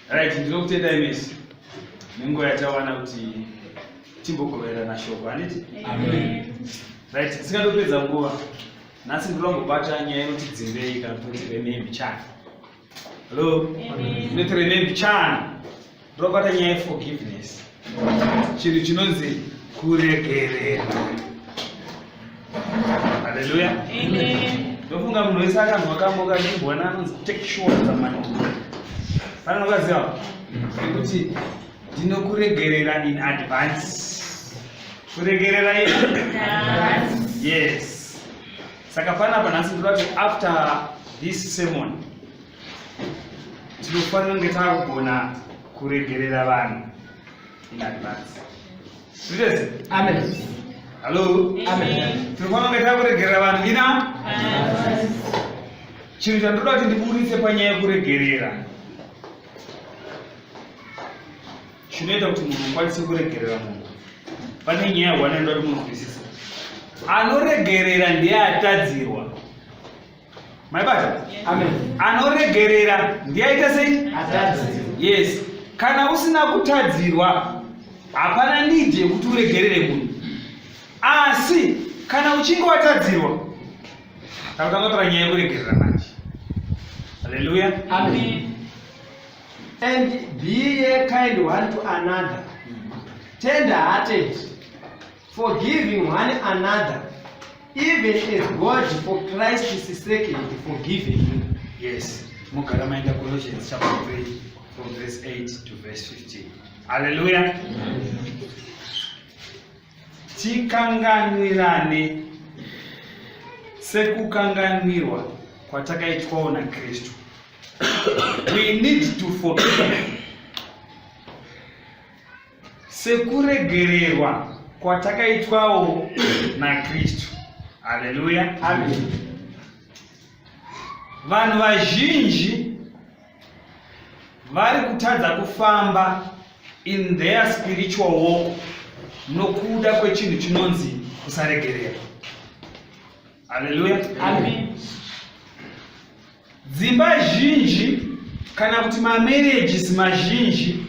Right, ndinokutenda imisi nenguva yatawana kuti timbogoverana shoko handiti right tisingandopedza nguva nhasi ndinongobata nyaya inoti dzimbei kana kuti remembi chani Hello. Let remember chana. Robata nyaya forgiveness. Chinhu chinonzi kuregerera. Hallelujah. Amen. Ndofunga munhu wese akanzwa kambo kachibwana anonzi take sure zamani. Kana nokaziva kuti ndinokuregerera in advance. Kuregerera in advance. Yes. saka panapa nhasi ndoda kuti after this sermon tinofanira kunge takugona kuregerera vanhu in advance zviitese amen hallo amen tinofanira kunge takuregerera vanhu ina chinhu chandoda kuti ndiburitse panyaya yekuregerera chinoita kuti munhu ukwanise kuregerera munhu pane nyaya one anoda kuti munzwisisa anoregerera ndiye atadzirwa maibata anoregerera ndiye aita sei yes kana usina kutadzirwa hapana nidi yekuti uregerere munhu asi kana uchinge watadzirwa takutanga tora nyaya yekuregerera manje haleluya amen And be a kind one to another, tender hearted, forgiving one another, even as God for Christ's sake is forgiving you. Yes. Mugara maenda Colossians chapter 3 from verse 8 to verse 15. Hallelujah. Tikanganwirane sekukanganwirwa kwatakaitwawo naKristu. we need to forgive sekuregererwa kwatakaitwawo nakristu haleluya amen vanhu vazhinji vari kutadza kufamba in their spiritual walk nokuda kwechinhu chinonzi kusaregerera haleluya amen Dzimba zhinji kana kuti mamarriages mazhinji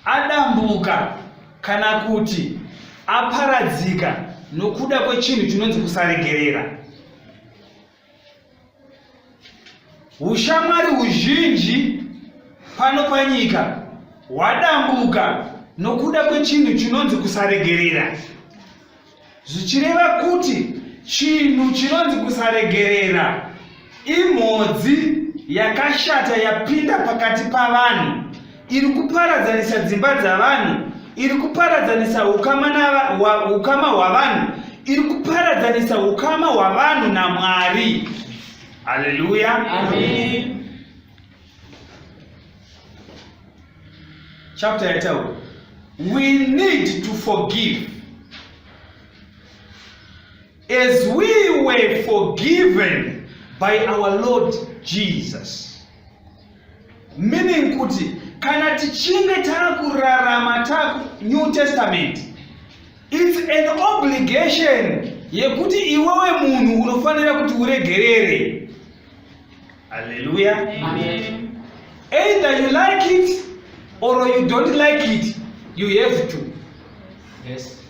adambuka kana kuti aparadzika nokuda kwechinhu chinonzi kusaregerera. Ushamwari huzhinji pano panyika hwadambuka nokuda kwechinhu chinonzi kusaregerera. zvichireva kuti chinhu chinonzi kusaregerera imhodzi yakashata yapinda pakati pavanhu iri kuparadzanisa dzimba dzavanhu iri kuparadzanisa ukama hwavanhu iri kuparadzanisa ukama hwavanhu namwari haleluya amen chapter yataura we need to forgive as we were forgiven by our lord jesus meaning kuti kana tichinge taakurarama taku new testament its an obligation yekuti iwewe munhu unofanira kuti uregerere Hallelujah. Amen. Either you like it or you don't like it, you have to. Yes.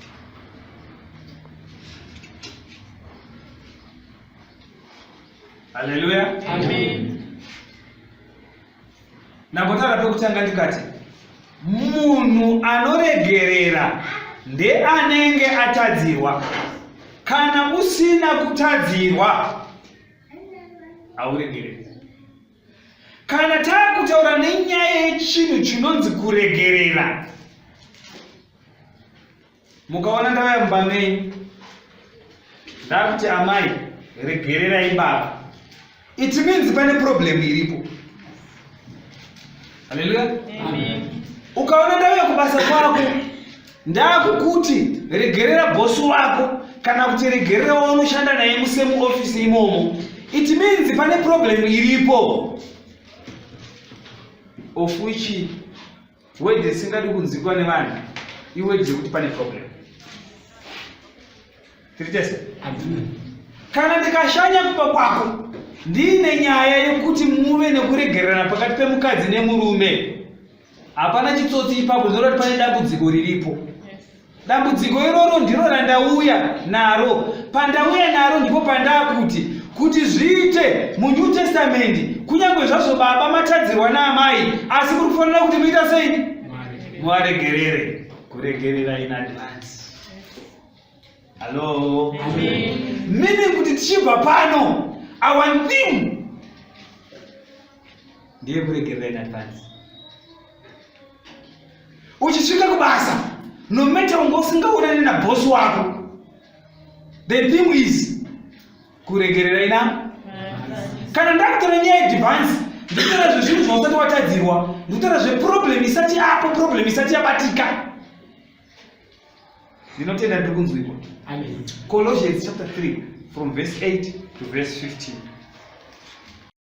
Hallelujah. Amen. Nambotara pekutanga ndikati munhu anoregerera ndeanenge atadzirwa kana usina kutadzirwa hauregereri kana taakutaura nenyaya yechinhu chinonzi kuregerera mukaona ndava yamba menyu ndakuti amai regererai baba it means pane problem iripo haleluya ukaona ndauya kubasa kwako Ndakukuti regerera boss wako kana kuti regerera waunoshanda naye musemu office imomo. It means pane problem iripo. Of which word isingadi kunzikwa nevanhu iwe dzekuti pane problem. Tiri tese? Kana ndikashanya kuba kwako ndiine nyaya yekuti muve nekuregererana pakati pemukadzi nemurume hapana chitsotsi ipapo zvinoreva kuti pane dambudziko riripo dambudziko iroro ndiro randauya naro pandauya naro ndipo pandakuti kuti zviite munew testament kunyange zvazvo baba matadzirwa naamai asi kuri kufanira kuti muita sei muvaregerere kuregerera in advance hallo meaning kuti tichibva pano our thing ndiye kuregerera in advance uchisvika kubasa no matter unga usingaonani nabosi wako the thing is kuregerera ina kana ndakutora nyaya yedivance nditora zvezvinhu zvausati watadzirwa nditora zveproblem isati yapo problem isati yabatika ndinotenda ndiri kunzwikwa colossians chapter 3 from verse 8 to verse 15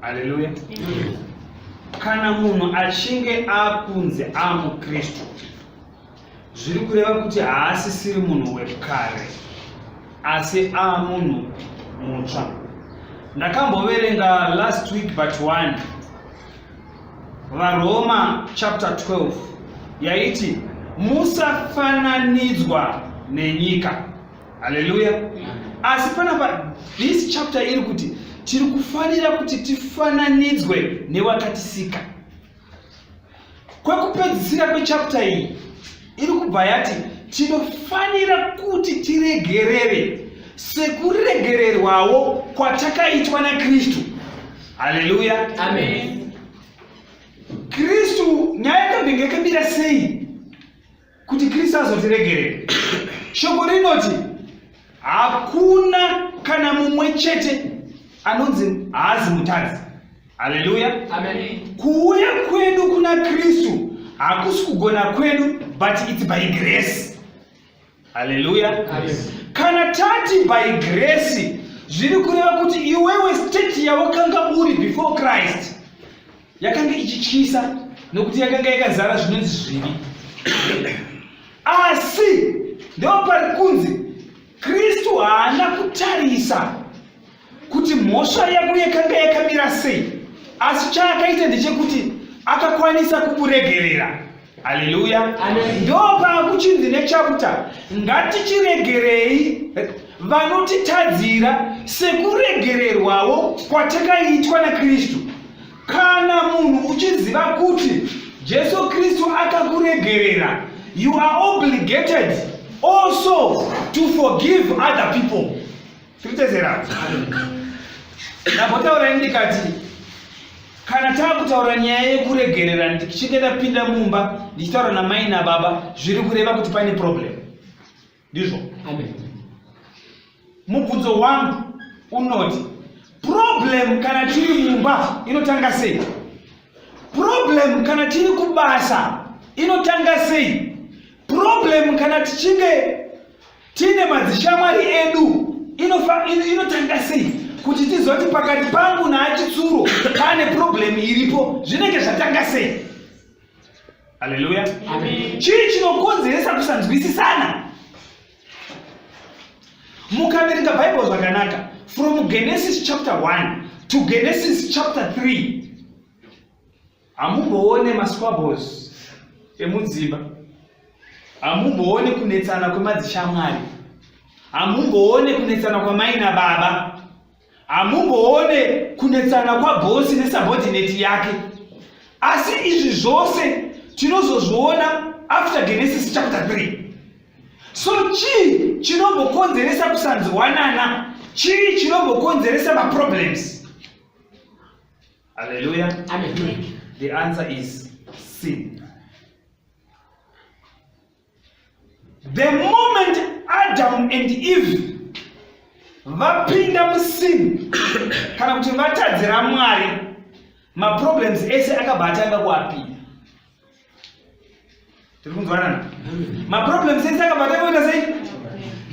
Haleluya. Kana munhu achinge akunzi amukristu zviri kureva kuti haasisiri munhu wekare asi amunhu mutsva. Ndakamboverenga last week but one varoma chapter 12 yaiti musafananidzwa nenyika haleluya asi panapa this chapter iri kuti tiri kufanira kuti tifananidzwe newakatisika kwekupedzisira kwechapter iyi iri kubva yati tinofanira kuti tiregerere sekuregererwawo kwatakaitwa nakristu haleluya kristu nyaya yakambenge yakambira sei kuti Kristu azotiregerera. Shoko rinoti hakuna kana mumwe chete anonzi haazi mutadzi. Haleluya. Amen. Kuuya kwedu kuna Kristu hakusi kugona kwedu but it's by grace. Haleluya. Amen. Kana tati by grace zviri kureva kuti iwewe state yawakanga uri before Christ yakanga ichityisa nokuti yakanga yakazara zvinonzi zvivi asi ndoo pari kunzi kristu haana kutarisa kuti mhosva yako yakanga yakamira sei asi chaakaita ndechekuti akakwanisa kukuregerera haleluya ndopakuchinzi nechakuta ngatichiregerei vanotitadzira sekuregererwawo kwatakaitwa nakristu kana munhu uchiziva kuti jesu kristu akakuregerera you are obligated also to forgive other people Tiritezera. Ndambotaura ndikati kana taakutaura nyaya yekuregerera ndichinge ndapinda mumba ndichitaura namai nababa zviri kureva kuti paine problem ndizvo mubvunzo wangu unoti problem kana tiri mumba inotanga sei problem kana tiri kubasa inotanga sei problem kana tichinge Tine madzishamwari edu inotanga sei kuti tizoti pakati pangu naachitsuro pane problemu iripo zvinenge zvatanga sei aleluya chii chinokonzeresa kusanzwisisana mukaverenga bhaibheri zvakanaka from genesis chapter 1 to genesis chapter 3 Hamumboone masquabbles emudzimba, hamumboone kunetsana kwemadzishamwari, hamumboone kunetsana kwamai nababa, hamumboone kunetsana kwabhosi nesubordinate yake. Asi izvi zvose tinozozviona after Genesis chapter 3. So chii chinombokonzeresa kusanzwanana? Chii chinombokonzeresa maproblems? Hallelujah. Hallelujah. The answer is sin. The moment Adam and Eve vapinda musin kana kuti vatadzira Mwari, maproblems ese akabva atanga kuapinda. tiri kunzwanana maproblems ese akabata kuita sei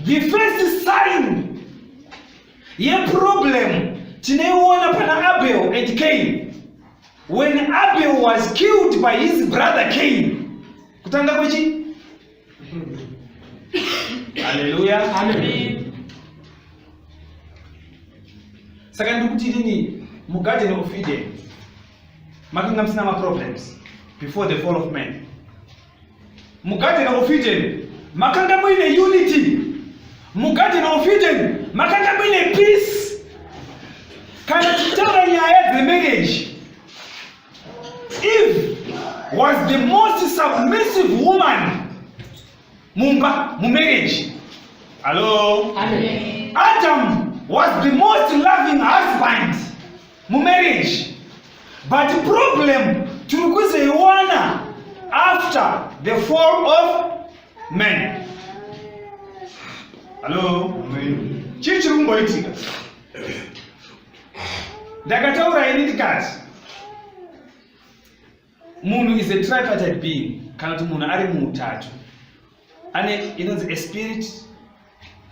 the first sign yeproblem tineiona pana abel and cain when abel was killed by his brother cain kutanga kwechi haleluya saka ndikuti inini mugarden of eden makanga musina maproblems before the fall of man mugadheni of eden makanga muine unity mugadheni of eden makanga muine peace kana tichitaura nyaya dzemarriage eve was the most submissive woman mumba mumarriage hallo adam was the most loving husband mumarriage but problem tiri kuzoiwana after the fall of man hallo chii chiri kumboitika ndakataura ini ndikati munhu is a tripartite being kana kuti munhu ari muutatu ane inonzi a spirit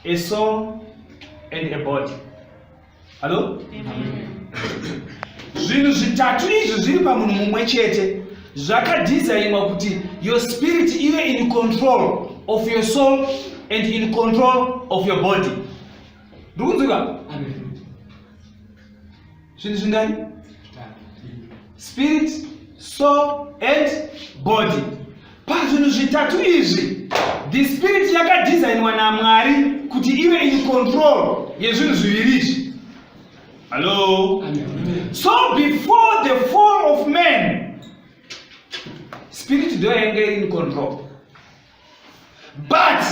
a soul and a body hallo zvinhu zvitatu izvi zviri pamunhu mumwe chete zvakadhizainwa kuti your spirit ive in control of your soul and in control of your body ndikunzwika zvinhu zvingani spirit soul and body pazvinhu zvitatu izvi the spirit yakadesignwa namwari kuti ive in control yezvinhu zviviri izvi hallo so before the fall of man spirit ndo yainge iri in control but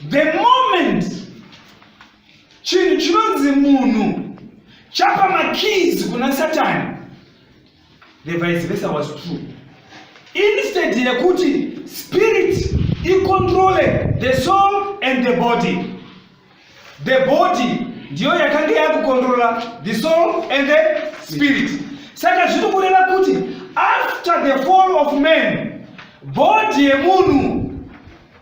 the moment chinhu chinonzi munhu chapa makeys kuna satani the vice versa was true instead yekuti spirit icontrole the soul and the body the body ndiyo yakange yakucontrola the soul and the spirit saka zviri kureva kuti after the fall of man body yemunhu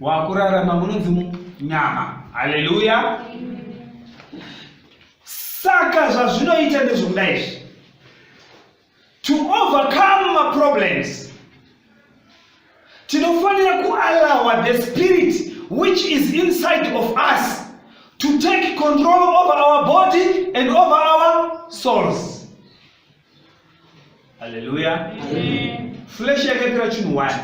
wakurarama munonzi nyama haleluya saka zvazvinoita ndezvokuda izvi to overcome maproblems tinofanira kuallowa the spirit which is inside of us to take control over our body and over our souls haleluya flesh yakaitira chinhu wani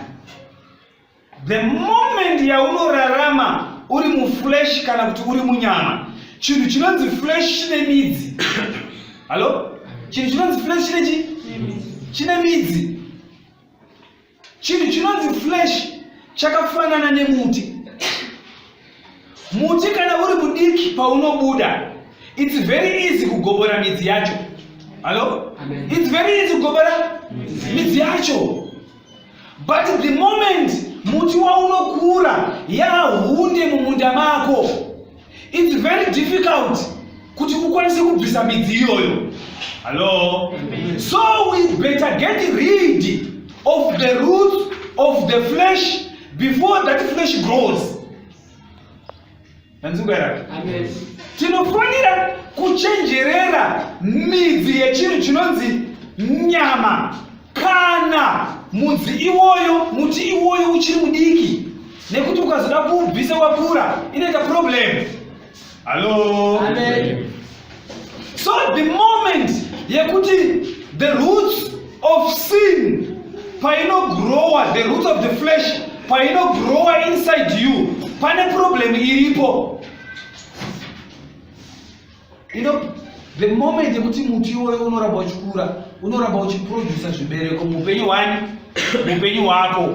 the moment yaunorarama uri muflesh kana kuti uri munyama chinhu chinonzi flesh chine midzi hallo chinhu chinonzi flesh chine chi chine midzi chinhu chinonzi flesh chakafanana nemuti muti kana uri mudiki paunobuda its very easy kugobora midzi yacho hallo its very easy kugobora midzi yacho But the moment muti waunokura yahunde mumunda mako it's very difficult kuti ukwanise kubvisa midzi iyoyo hallo so we better get rid of the root of the flesh before that flesh grows Tanzunga yake. Amen. Tinofanira kuchenjerera midzi yechinhu chinonzi nyama kana mudzi iwoyo muti iwoyo uchiri mudiki nekuti ukazoda kuubvisa wakura inoita problem. Hello. Amen. So the moment yekuti the roots of sin painogrowa the roots of the flesh painogrowa inside you pane problem iripo you know the moment yekuti muti iwoyo unoramba uchikura unoramba uchiprodusa zvibereko muupenyu hwani muupenyu hwako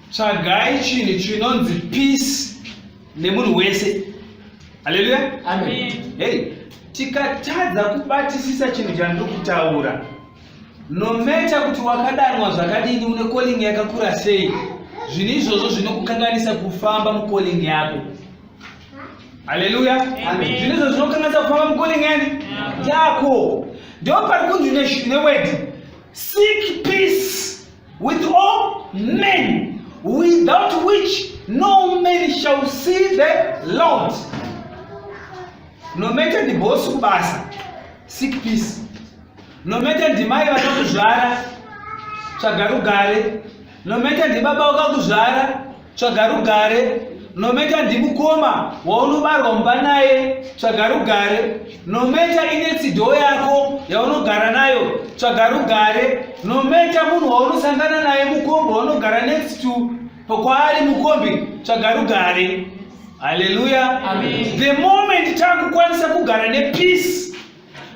tsvagai chinhu chinonzi peace nemunhu wese haleluya hei tikatadza kubatisisa chinhu chandiri kutaura nometa kuti wakadanwa zvakadini une kolingi yakakura sei zvinhu izvozvo zvinokukanganisa kufamba mukolingi yako haleluya zvinhu izvozvo zvinokukanganisa kufamba mukolingi yani yako ndio pari kunzi newedi seek peace With all men without which no man shall see the Lord. Nomete ndibosi kubasa seek peace. Nomete ndimai vakakuzvara tsvaga rugare. Nomete ndibaba wakakuzvara tsvaga rugare nometa ndimukoma waunobarwa mumba naye tsvaga rugare nometa inetsido yako yaunogara nayo tsvaga rugare nometa munhu waunosangana naye mukombi waunogara next to pokwaari mukombi tsvaga rugare haleluya the moment takukwanisa kugara nepeace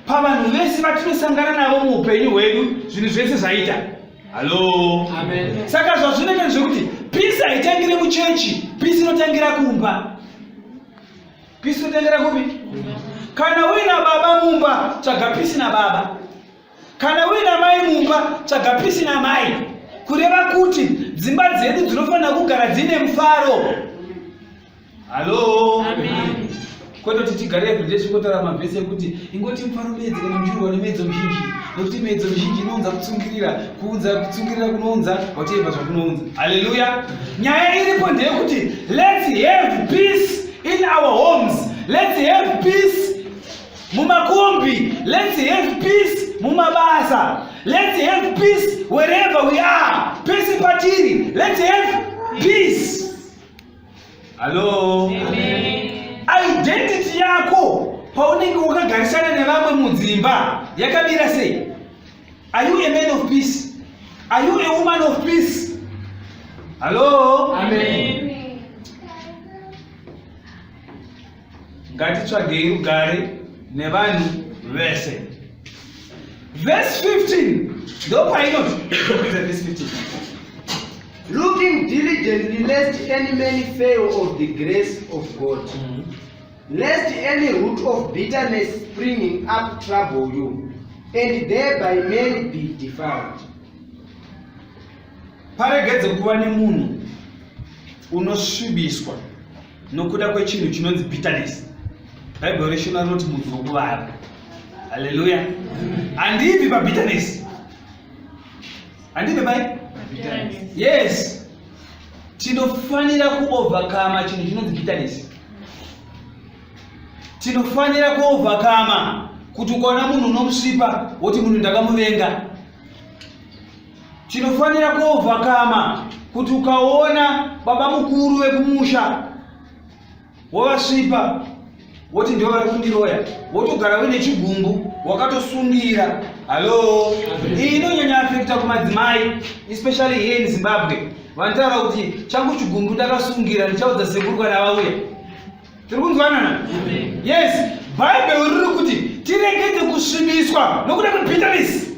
pavanhu vese vatinosangana navo muupenyu hwedu zvinhu zvese zvaita hallo saka zvazvinoita ndezvekuti pisi haitangire muchechi pisi inotangira kumba pisi inotangira kupi kana uina baba mumba tsvaga pisi nababa kana uina mai mumba tsvaga pisi namai kureva kuti dzimba dzedu dzinofanira kugara dzine mufaro Halo. Amen. Kwete kuti tigare everyday tikotara mavhesi ekuti ingoti mufaro medzi kana muchirwa nemedzo mizhinji nekuti medzo mizhinji inounza kutsungirira kuunza kutsungirira kunounza whatever zvakunounza. Hallelujah. Nyaya iripo ndeyekuti let's have peace in our homes. Let's have peace mumakombi. Let's have peace mumabasa. Let's have peace wherever we are. Peace patiri. Let's have peace. Hello. Identity yako paunenge wakagarisana nevamwe mudzimba yakamira sei? Are you a man of peace? Are you a woman of peace? Hello. Amen. ngatitsvagei rugare nevanhu vese verse 15 ndopainoti looking diligently lest any man fail of the grace of god mm. lest any root of bitterness springing up trouble you and thereby men be defiled paregedze kuva nemunhu unosvibiswa nokuda kwechinhu chinonzi bitterness bhaibheri reshona rinoti mudzi wokuvara haleluya handibvi pabitterness handibvi pai yes tinofanira kuovhakama chinhu chinonzi bitterness tinofanira kuovhakama kuti ukaona munhu unomusipa woti munhu ndakamuvenga Tinofanira kuovhakama kuti ukaona baba mukuru vekumusha wovasvipa woti ndivo vari kundiroya wotogara uine chigumbu wakatosungira hallo iyi inonyanya afekta kumadzimai especially here in zimbabwe vanotaura kuti changu chigumbu ndakasungira ndichaudza sekuru kana vauya tiri kunzwanana yes bhaibheri riri kuti tiregedze kusvibiswa nokuda kwebitterness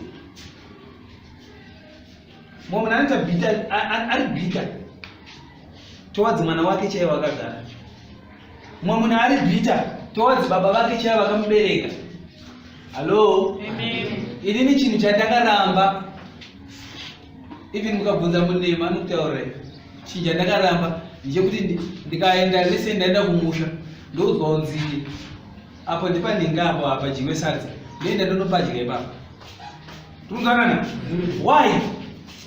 mumwe munhu anoita bita ari bita towadzi mwana wake chaiye wakagara mumwe munhu ari bita towadzi baba vake chaiye vakamubereka hallo inini chinhu chandakaramba even mukabvunza munema anokutaurira chinhu chandakaramba ndichekuti ndikaenda lese ndaenda kumusha ndoudzwa unzii Apo ndipa ninga apo apa jiwe sadza. Nenda ndono padya ipapa. Tunzanana. Why?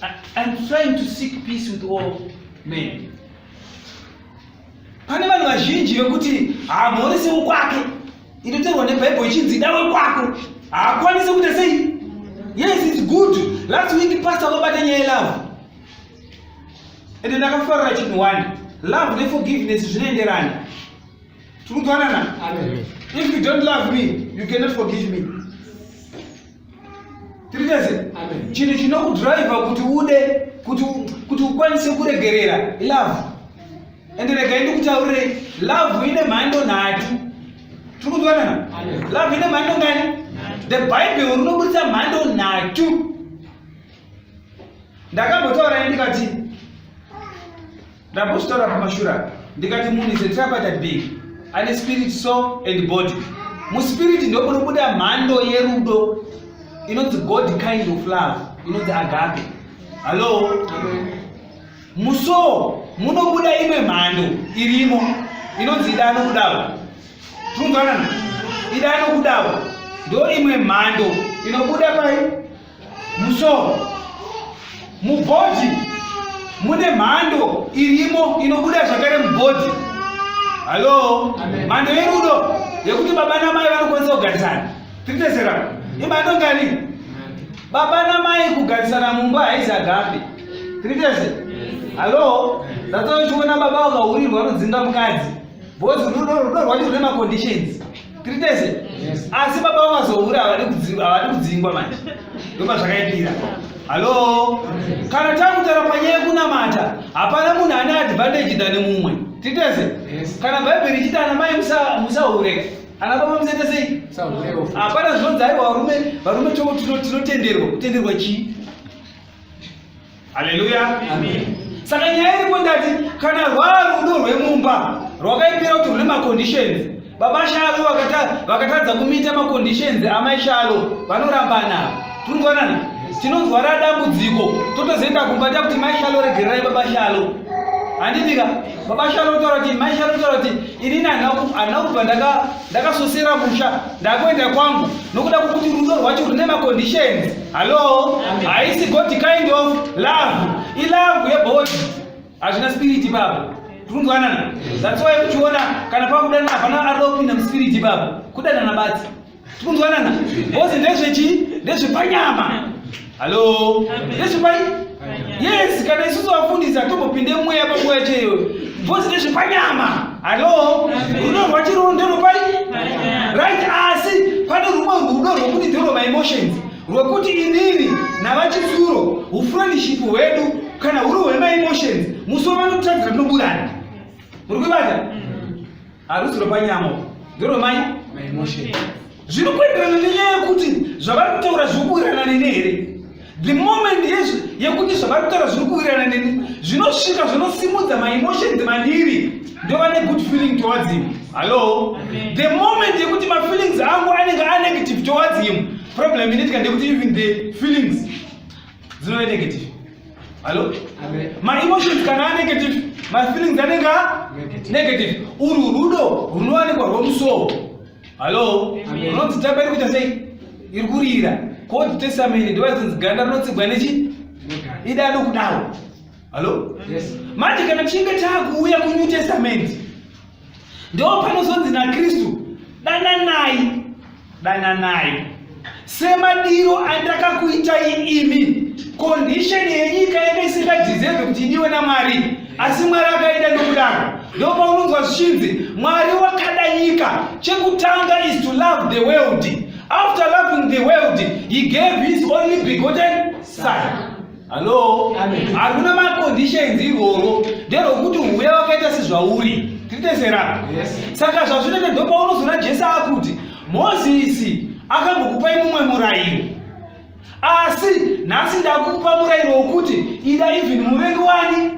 I, I'm trying to seek peace with all men. Pane vanhu vazhinji vekuti hamhorise wekwake. Inoterwa neBhaibheri ichinzi da wekwako. Haakwanise kuita sei? Yes, it's good. Last week pastor vakabata nyaya yelove. Ende ndakafarira chinhu one. Love neforgiveness zvinoenderana. Tikugonana. Amen. If you don't love me, you cannot forgive me. Tirikeze. Amen. Chinhu chinokudriver kuti ude kuti kuti ukwanise kuregerera love. Ende rega ndikutaurire love ine mhando nhatu. Tikugonana. Amen. Love ine mhando ngani? The Bible rinobudisa mhando nhatu. Ndakambotaura ndikati Ndambozvitaura kumashure apa ndikati munhu is a tripartite being ane spirit, soul and body. Muspirit ndipo munobuda mhando yerudo inonzi God kind of love inonzi agape. Hallo? Musoul munobuda imwe mhando irimo inonzi ida anokudawo. Tinokudanana? Ida anokudawo. Ndo imwe mhando inobuda pai? musoro mubhodhi mune mhando irimo inobuda zvakare mubhodhi halo mhando yerudo yekuti baba namai vanokwanisa kugarisana tiriteserana imhando ngani baba namai kugarisana mumba haizi agape tiritese halo zatochiona baba vakahurirwa vanodzinga mukadzi bhozi rudo rudo rwacho rune maconditions Tritese. Yes. Asi baba vakazohura havadi kudzingwa, havadi kudzingwa manje. Ndopa zvakaipira. Hello. Kana takutara panyaya kunamata, hapana munhu ane advantage than mumwe. Tritese. Yes. Kana Bible richita ana mai musa musahure. Ana baba musete sei? Musahure. Hapana zvinonzi aiwa varume, varume tinotenderwa, kutenderwa chii? Haleluya. Amen. Saka nyaya iripo ndati kana rwarudo rwemumba rwakaipira kuti rune maconditions baba shalo vakatadza kumita maconditions amai shalo vanorambana tinoonana tinozwara dambudziko totozoenda kumba ta kuti mai shalo regererai baba shalo handidika baba shalo otaura kuti mai shalo otaura kuti inini handina kubva ndaka ndakasosera musha ndakuenda kwangu nokuda kwokuti rudo rwacho rune maconditions hallo haisi god kind of love ilove yebody hazvina spiriti baba tikunzwanana that's why kuchiona kana pakudanana hapana arida kupinda muspiriti baba kudanana batsi tikunzwanana bhozi ndezvechi ndezvepanyama Hello. Ndezvepai? Yes, kana isusu vafundisi hatombopinde mweya panguva chaiyo. Bhozi ndezvepanyama. Hello. Rudo rwachiroho nderopai? Right, asi pane rumwe rudo rwekuti ndero maemotions rwekuti inini navachizuro ufriendship hwedu kana huri hwemaemotions musi wavanotiratidza tinoburana. Muri kuibata? harusi rwepanyama urwu nderwemai maimotion zviri kuenderana nenyaya yekuti zvavari kutaura zviri kuwirirana neni here the moment yezvi yekuti zvavari kutaura zviri kuwirirana neni zvinosvika zvinosimudza maimotions mandiri ndova negood feeling towards him hallo the moment yekuti mafeelings angu anenge anegative towards him problem inoitika ndekuti even the feelings dzinove negative hallo maemotions kana anegative mafeelings anenge negative urwu rudo runowanikwa rwomusoo hallo unonzi tamba iri kuita sei iri kurira koti tesamene ndivazinzi ganda rinotsigwa nechi idado kudaro hallo manje kana tichinge taakuuya kunew testament Ndoo panozonzi naKristu, dananai, dananai. Semadiro andakakuitai imi, kondisheni yenyika yanga isingadhizevhi kuti idiwe naMwari, asi Mwari akaida nokudaro. Ndoo paunonzwa zvichinzi, Mwari wakada nyika, chekutanga is to love the world. After loving the world, he gave his only begotten son. hallo hakuna maconditions iroro nderokuti uve wakaita sezvauri tiri tese ra saka zvazvinoita ndopaunozoona jesu akuti mozisi akambokupai mumwe murayiro asi nhasi ndakupa murayiro wokuti ida even muvengi wani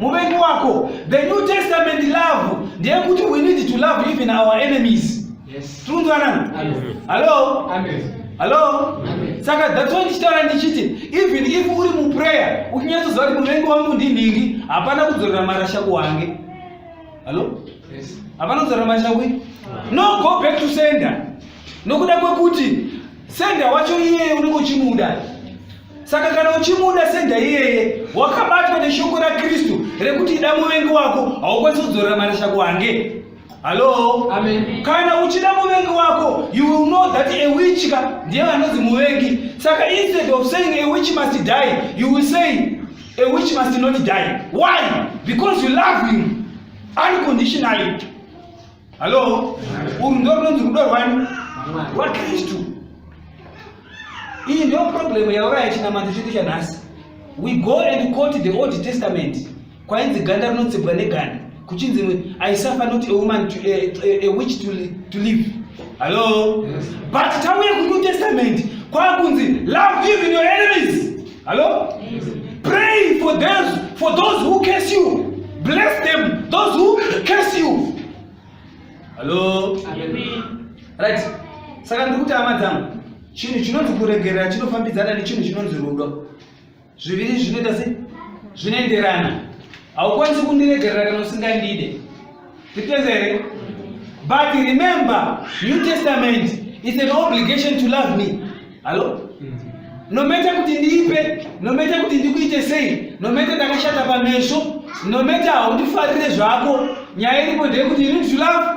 muvengi wako the new testament love ndeyekuti we need to love even our enemies Yes. Tunzwanana? Amen. Hello? Amen. Hello? Amen. Saka that's why ndichitaura ndichiti even if uri muprayer uchinyatsoziva kuti muvengi wangu ndinhingi hapana kudzorera marasha kuwange. Hello? Yes. Hapana kudzorera marasha kui? No go back to sender. Nokuda kwekuti sender wacho iyeye unenge uchimuda. Saka kana uchimuda sender iyeye wakabatwa neshoko raKristu rekuti ida muvengi wako haukwanisi kudzorera marasha kuwange. Hello? Amen. Kana uchida muvengi wako, you will know that a witch ka ndiye anonzi muvengi. Saka instead of saying a witch must die, you will say a witch must not die. Why? Because you love him unconditionally. Hello? Uru ndo runonzi rudo rwani? RwaKristu. Iyi ndiyo problem yauraya chinamato chedu chanhasi. We go and quote the Old Testament. kwainzi ganda rinotsebwa neganda kuchinzi aisafa not a woman to, a, a, a witch to, to live hallo yes. but tauye kunew testament kwakunzi love even your enemies hallo yes. pray for those, for those who case you bless them those who case you hallo right saka ndiri kuti hama dzangu chinhu chinonzi kuregerera chinofambidzana nechinhu chinonzi rudo zviviri zvinoita sei zvinoenderana haukwanisi kundiregerera kana usingandide zvipenza here but remember new testament is an obligation to love me hallo nometa kuti ndiipe nometa kuti ndikuite sei nometa ndakashata pameso nometa haundifarire zvako nyaya iripo ndeyekuti you need to love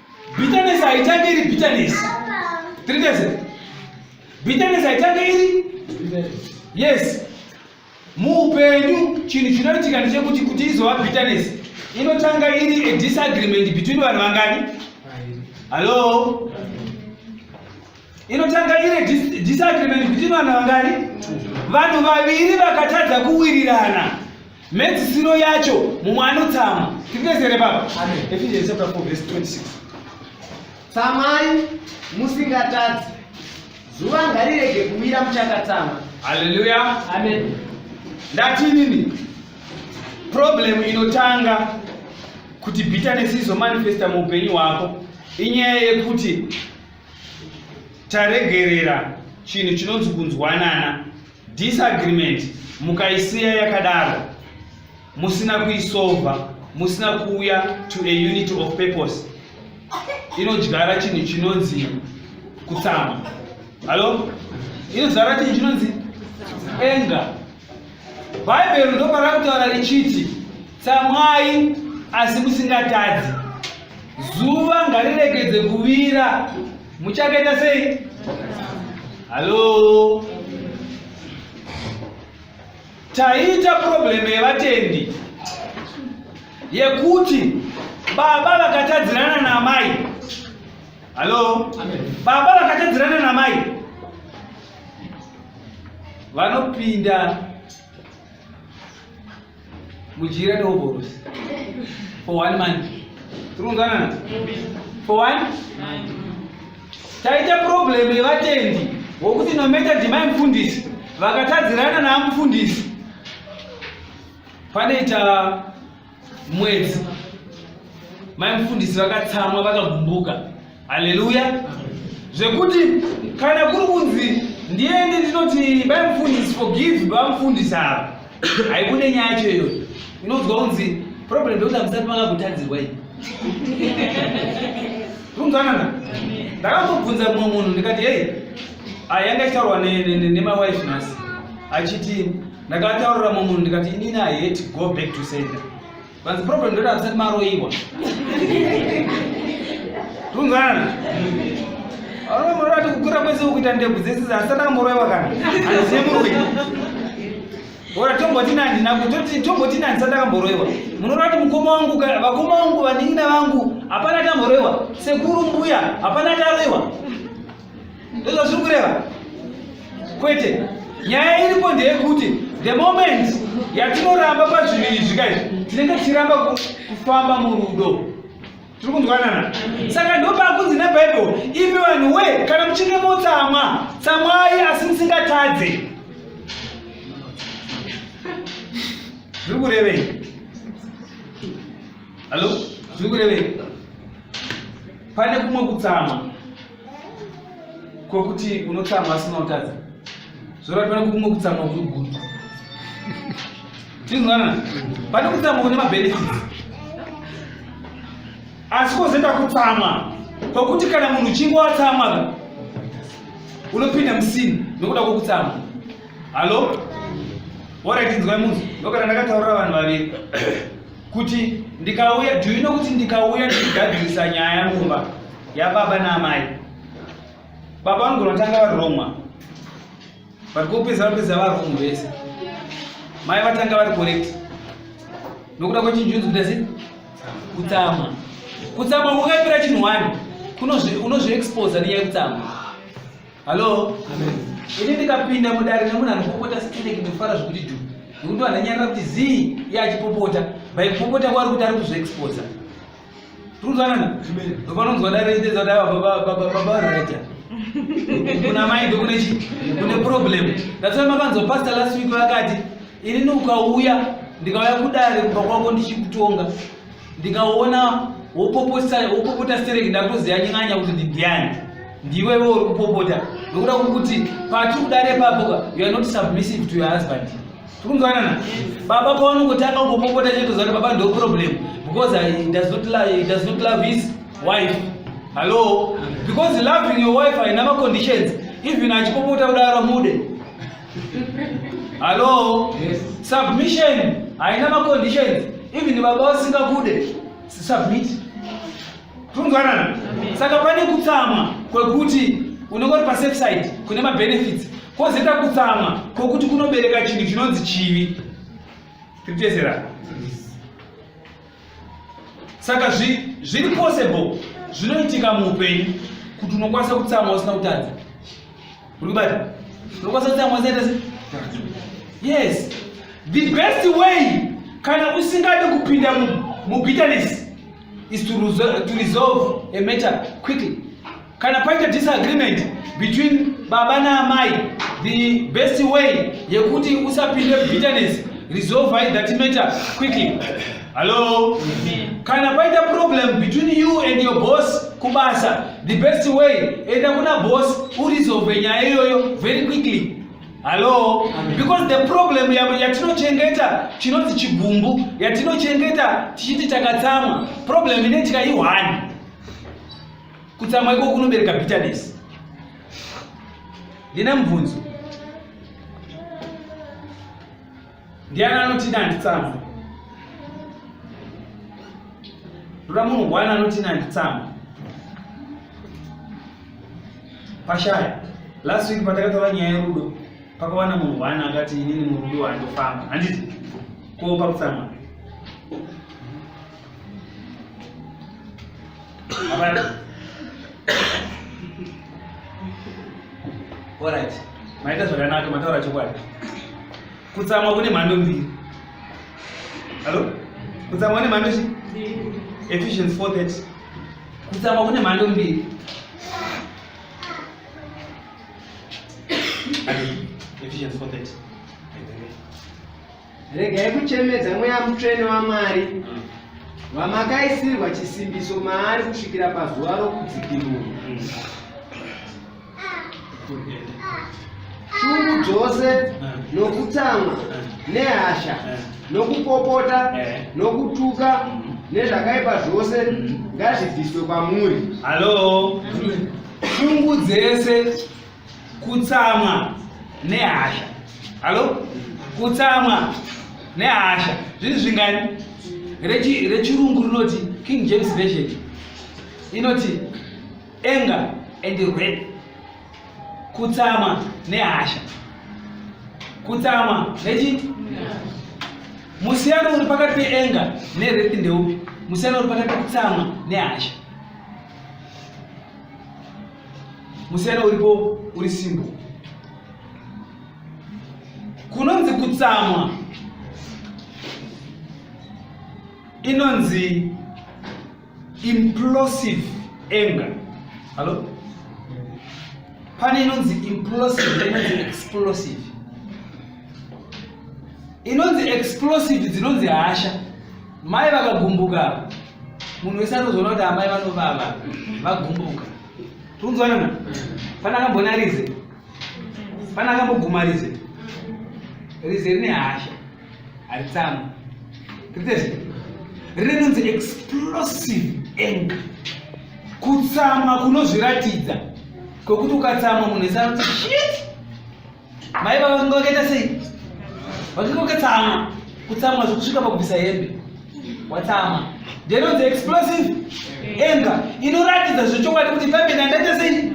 Bitterness haitange iri bitterness. Bitterness. Bitterness haitange iri yes. Muupenyu chinhu chinoitika ndechekuti kuti izova bitterness inotanga iri a disagreement between vanhu vangani? Hello? inotanga ine disagreement between vanhu vangani vanhu vaviri vakatadza kuwirirana mhedzisiro yacho mumwe anotsamwa tikunesere baba ephesians chapter 4 verse 26 tsamai musingatadzi zuva ngarirege kuwira muchakatsamwa haleluya amen ndati nini problem inotanga kuti bitterness izomanifesta muupenyu hwako inyaya yekuti taregerera chinhu chinonzi kunzwanana disagreement mukaisiya yakadaro musina kuisova musina kuuya to a unit of purpose inodyara chinhu chinonzi kutsama hallo inodzara chinhu chinonzi enga bhaibheri ndoparakutaura richiti Tsamwai asi musingatadzi. Zuva ngariregedze kuvira. Muchakaita sei? Halo. Taita problem yevatendi yekuti baba vakatadzirana namai. Halo. Baba vakatadzirana namai. Vanopinda mudyire dovoros for one month tiri kunzwanana for one taita problem yevatendi wokuti nometa ndimai mufundisi vakatadzirana naamufundisi panoita mwedzi mai mufundisi vakatsamwa vakagumbuka haleluya zvekuti kana kuri kunzi ndiende ndinoti bai mufundisi forgive bamufundisi ava haibude nyaya yacho iyoyo inonzwa kunzi problem ndekuti amusati makakutadzirwa iyi kunzwanana ndakambobvunza mumwe munhu ndikati hei ayanga achitaurwa nemawife nhasi achiti ndakataurira mumwe munhu ndikati inini i hate go back to center Vanzi problem ndoda vasati maroiwa. Tungana. Aro murora tikukura kwese ukuita ndebvu dzese dzasati amoroiwa kana. Aziye murume. Ora tomboti nani nakutoti tomboti nani sati akamboroiwa. Munorora kuti mukoma wangu vakoma wangu vanin'ina vangu hapana tamboroiwa. Sekuru mbuya hapana taroiwa. ndizvo zviri kureva kwete nyaya iripo ndeyekuti the moment yatinoramba pazviviri izvi kai tinenge tichiramba kufamba murudo tiri kunzwanana saka ndopakunzi nebhaibheri imi vanhu we kana muchinge motsamwa tsamwai asi musingatadze zviri kurevei hallo zviri kurevei pane kumwe kutsamwa kwokuti unotsamwa asina kutadza zvorati pane kumwe kutsamwa kuri guru tinzwanana pane kutsamwa kune mabenefits asi kwozoita kutsamwa kwokuti kana munhu uchinge watsamwa unopinda musini nokuda kwokutsamwa hallo waratinzwai munzi ndokana ndakataurira vanhu vaviri kuti ndikauya do you know kuti ndikauya ndichigadzirisa nyaya mumba yababa naamai baba vanogona kutanga varomwa but kopedza vanopedza varomwa vese mai vatanga vari correct nokuda kwechinjunzi kuda sei kutsamwa kutsamwa kukapira chinhu wani unozviexposa nenyaya yekutsamwa Hello. Amen. Ini ndikapinda mudare nemunhu anopopota stereki ndofara zvekuti dhu. Nekuti vanhu anyarira kuti zii iye achipopota. By kupopota kwari kuti ari kuzviexposa. Tikudzanana? Amen. Ndopanonzwa dare richitedza kuti ava baba baba baba vareta. Kuna mai ndokune chi kune problem. That's why makanzwa pastor last week vakati ini ukauya ndikauya kudare kumba kwako ndichikutonga. ndikaona wopopota stereki ndakutoziva nyanya kuti ndindiani ndiwewe uri kupopota nokuda kwokuti pati kudare papoka you are not submissive to your husband tikunzwanana baba paunongotanga kungopopota chetoziva kuti baba ndo problem because he does not love, he does not love his wife hallo because loving your wife haina maconditions even achipopota kudaro mude Hello? Yes. Submission. I know my conditions. Even baba vasingakude. Submit. Tunzwanana. Saka pane kutsama kwekuti unenge uri pasafe side kune mabenefits kwozoita kutsama kwokuti kunobereka chinhu chinonzi chivi. Tiri kutesera. saka zviri possible zvinoitika muupenyu kuti unokwanisa kutsamwa usina kutadza uri kubata unokwanisa kutsamwa usina kutadza yes the best way kana usingade kupinda mubitterness is to resolve a matter quickly kana paita disagreement between baba naamai the best way yekuti usapinde bitterness resolve that matter quickly hallo kana paita problem between you and your boss kubasa the best way enda kuna boss urizove nyaya iyoyo very quickly hallo because the problem yatinochengeta chinonzi chigumbu yatinochengeta tichiti takatsamwa problem ine tikaihwani Kutsamwa iko kunobereka bitterness. Ndine mubvunzo. Ndiani anoti ndanditsamwa? Ndoda munhu wani anoti ndanditsamwa? Pashaya. Last week patakatora nyaya yerudo pakawana munhu wani akati inini murudo wandofamba. Handiti? Ko pakutsamwa. Alright. Maita zvakanaka mataura chokwadi. Kutsamwa kune mhando mbiri. Hello? Kutsamwa kune mhando mbiri. Ephesians 4:30. Kutsamwa kune mhando mbiri. Ephesians 4:30. Regai kuchemedza mweya mutsvene waMwari vamakaisirwa chisimbiso maari kusvikira pazuva rokudzikinurwa. Shungu dzose nokutsamwa nehasha nokupopota nokutuka nezvakaipa zvose ngazvibviswe kwamuri. Hallo. Shungu dzese kutsamwa nehasha halo kutsamwa nehasha zvinhu zvingani rechirungu rinoti king james version inoti anger and red kutsamwa nehasha kutsamwa nechi musiyano uri pakati peenga nered ndeupi musiyano uri pakati pekutsamwa nehasha musiyana uripo uri simbo kunonzi kutsamwa inonzi implosive anger hallo pane inonzi implosive inonzi explosive inonzi explosive dzinonzi hasha mai vakagumbuka munhu wese anozoona kuti amai vanovava vagumbuka tikunzwanana fana akambona rize fana akamboguma rize rize rine hasha haritsamu ritese rine nonzi explosive anger kutsama kunozviratidza kwekuti ukatsama munhu wese anoti shit Mai baba vakanga vakaita sei? Vakanga vakatsamwa, kutsamwa zvekusvika pakubvisa hembe. Watsamwa. Ndinonzi explosive anger inoratidza zvechokwadi kuti pambe ndandaita sei?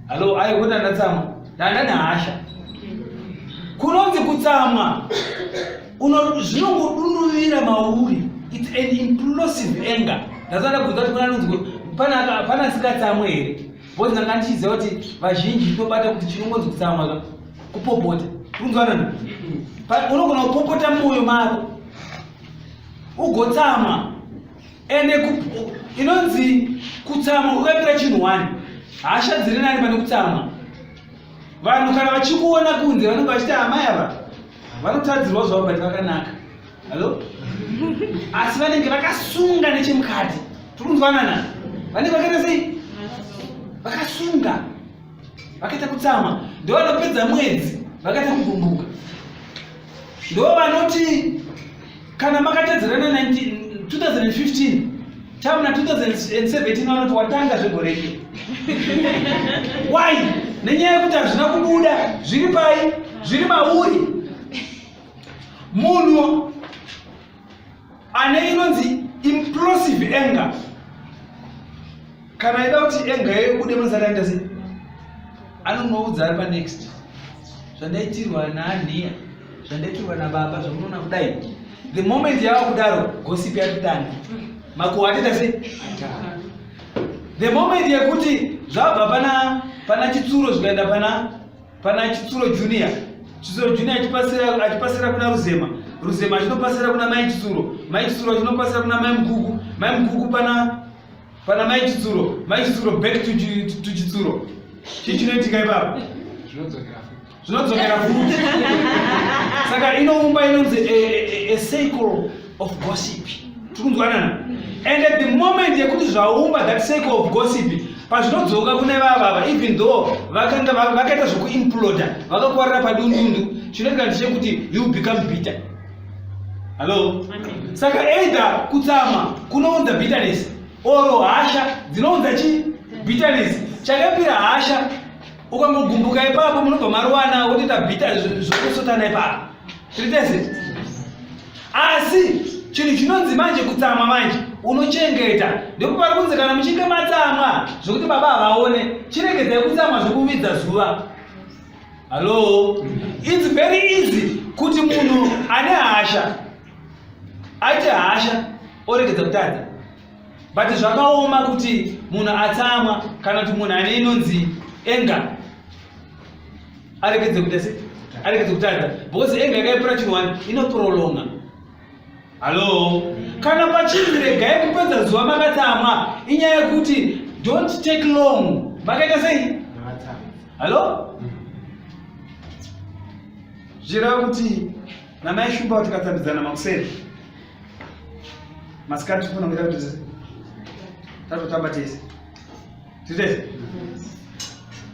Halo, ayo kuti ndatsamwa. Ndanda nehasha. Kunonzi kutsamwa zvinongodunduvira mauri. It's an implosive anger. Ndasada kuudza kuti kuna nonzi pana asikatsamwe here? Both ndanga ndichiziva kuti vazhinji tinobata kuti chinongonzi kutsamwa ka kupopota. Kunzwanana? But unogona kupopota mumwoyo mako. Ugotsamwa. Ende inonzi kutsamwa ukaipira chinhu wani. Hasha dziri nani pane kutsamwa. Vanhu kana vachikuona kunze vanenge vachiti amai ava vanotadzirwa zvavo but vakanaka. Hello? Asi vanenge vakasunga nechemukati. Tiri kunzwanana? Vanenge vakaita sei? Vakasunga. Vakaita kutsama. Ndivo vanopedza mwedzi vakaita kugumbuka. Ndivo vanoti kana makatedzerana 2015 tamuna 2017 vanoti watanga zvegore iri. Why? Nenyaya yekuti hazvina kubuda zviri pai? Zviri mauri. munhu ane inonzi implosive anger kana aida kuti anger yayo ibude mazaranda se anonoudza ari panext zvandaitirwa naaniya zvandaitirwa nababa zvamunoona kudai the moment yava kudaro gosipi yatotanga makuwa atita se the moment yekuti zvabva pana pana chitsuro zvikaenda pana Pana Chitsuro Junior, Chitsuro Junior achipasira achipasira kuna Ruzema, Ruzema achinopasira kuna Mai Chitsuro, Mai Chitsuro achinopasira kuna Mai Mkuku, Mai Mkuku pana pana Mai Chitsuro, Mai Chitsuro back to to Chitsuro. Chii chinoitika ipapo? Zvinodzokera futi. Zvinodzokera futi. Saka inoumba inonzi a, a, a cycle of gossip tikunzwanana and at the moment yekuti zvaumba that sake of gossip pazvinodzoka kune vavava even though vakanga vakaita zvekuimploda vakakwarira padundundu chinoita ndechekuti you become bitter hallo saka either kutsama kunounza bitterness oro hasha dzinounza chi bitterness chakapira hasha ukangogumbuka ipapo munobva maruwana wotoita bitter zvokusotana ipapo tiri tese asi chinhu chinonzi manje kutsamwa manje unochengeta ndekuti vari kunzi kana muchinge matsamwa zvokuti baba havaone chiregedzai kutsamwa zvekuvidza zuva hallo its very easy kuti munhu ane hasha aite hasha oregedza kutadza but zvakaoma kuti munhu atsamwa kana kuti munhu ane inonzi enga aregedze kuita se aregedze kutadza because anger yakaipira chinhu wani inoprolonga hallo kana pachinzi regai kupedza zuva makatsamwa inyaya yekuti don't take long makaita sei hallo zvireva kuti namai shumba kuti katsambidzana makuseni masikati tifunongera kuti tatotamba tese Tete.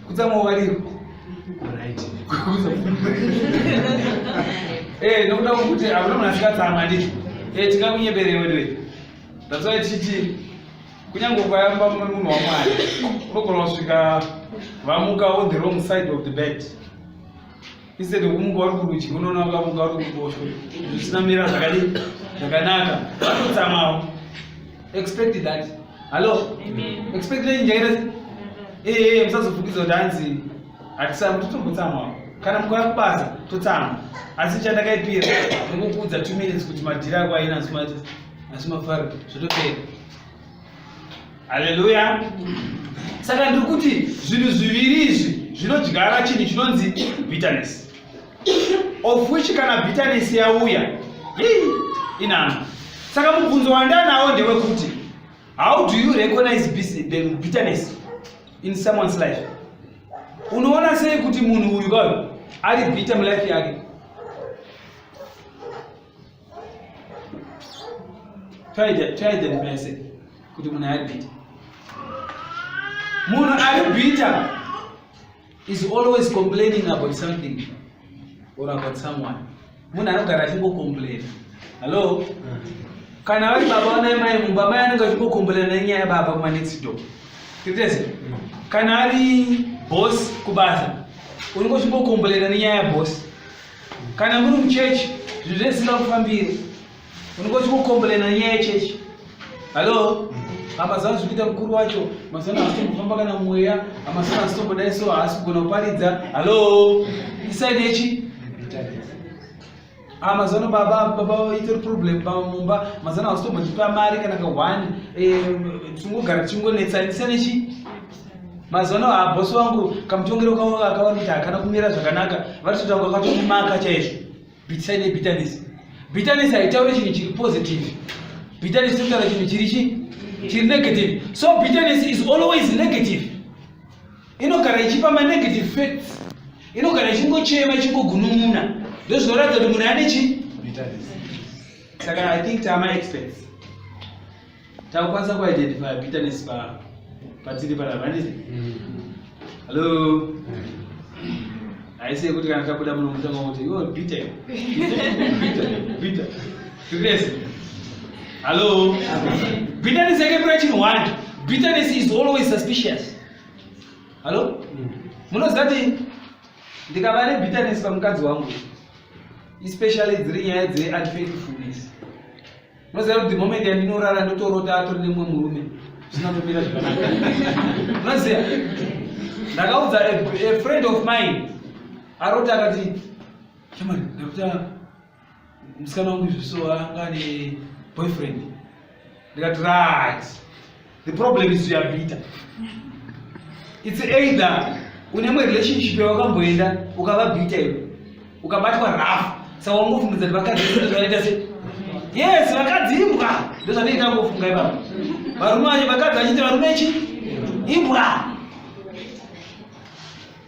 Kutsamwa waliro. Right. Eh, nokuda kuti hakuna munhu asikatsamwa ndii. Eh, tingakunyeberei weduwe. That's why tichiti kunyange ukayamba munhu wamwari unogona kusvika vamuka on the wrong side of the bed. instead yokumuka uri kurudyi unoona wakamuka uri kuruboshwe zvisina mira zvakadi zvakanaka vanotsamawo expect that hallo expect nei njaira ee musazofukidza kuti hanzi hatisama totombotsamawo kana mukauya kubasa totsama asi chandakaipira nekukuudza two minutes kuti madhiri ako aina asi mafaro zvotopera haleluya saka ndiri kuti zvinhu zviviri izvi zvinodyara chinhu chinonzi bitterness of which kana bitterness yauya inano saka mubvunzo wandanawo ndewekuti how do you recognize the bitterness in someone's life unoona sei kuti munhu uyu kayo ari bitter mulife yake toidentifyase kuti munhu ari bita munhu ari bita is always complaining about something or about someone munhu anogara achingocomplaina hallo kana vari baba vanai mai mumba mai anenge achingocomplaina nenyaya yababa kumanexido titese kana ari boss kubasa unenge uchingocomplaina nenyaya yaboss Kana muri muchechi zvinhu zvisina kufambiri unongoti kukombolena nyaya yechechi hallo amazana zvikuita mukuru wacho mazana haasitombofamba kana mweya amazana haasitombodai so haasi kugona kuparidza hallo isaidi yechi Ah, mazano baba baba itori problem baba mumba mazano hausitombondipa mari kana ka one eh, tingogara tichingonetsanisa nechi mazano habosi wangu kamutongero kavo vakaona kuti hakana kumira zvakanaka vatotanga vakatomumaka chaizvo bitsai nebitanisi bitanisi haitauri chinhu chiri positive bitanisi totaura chinhu chiri chi chiri negative so bitanisi is always negative inogara ichipa manegative facts inogara ichingochema ichingogunun'una ndozvinoratidza kuti munhu ane chi saka i think tama experts takukwanisa kuidentifya bitterness pa patiri panapa handiti hallo haisi yekuti kana tabuda muno mutanga kuti iwo bitter bitter bitter tikese hallo bitterness yake pira chinhu one bitterness is always suspicious hallo munoziva kuti ndikava nebitterness pamukadzi wangu especially dziri nyaya dzeunfaithfulness unoziva kuti the moment yandinorara ndotorota atori nemumwe murume zvisina kumira zvakanaka unoziva ndakaudza a friend of mine arota akati shamari ndakuta musikana wangu izvi so anga ane boyfriend ndikati right The problem is you are bitter. It's either une mwe relationship yawakamboenda ukava bitter iwe ukabatwa rough saka wangofunga kuti vakadzi zvinoita se yes vakadzi imbwa ndozvanoita ngofunga ivavo varume vacho vakadzi vachiti varume chi imbwa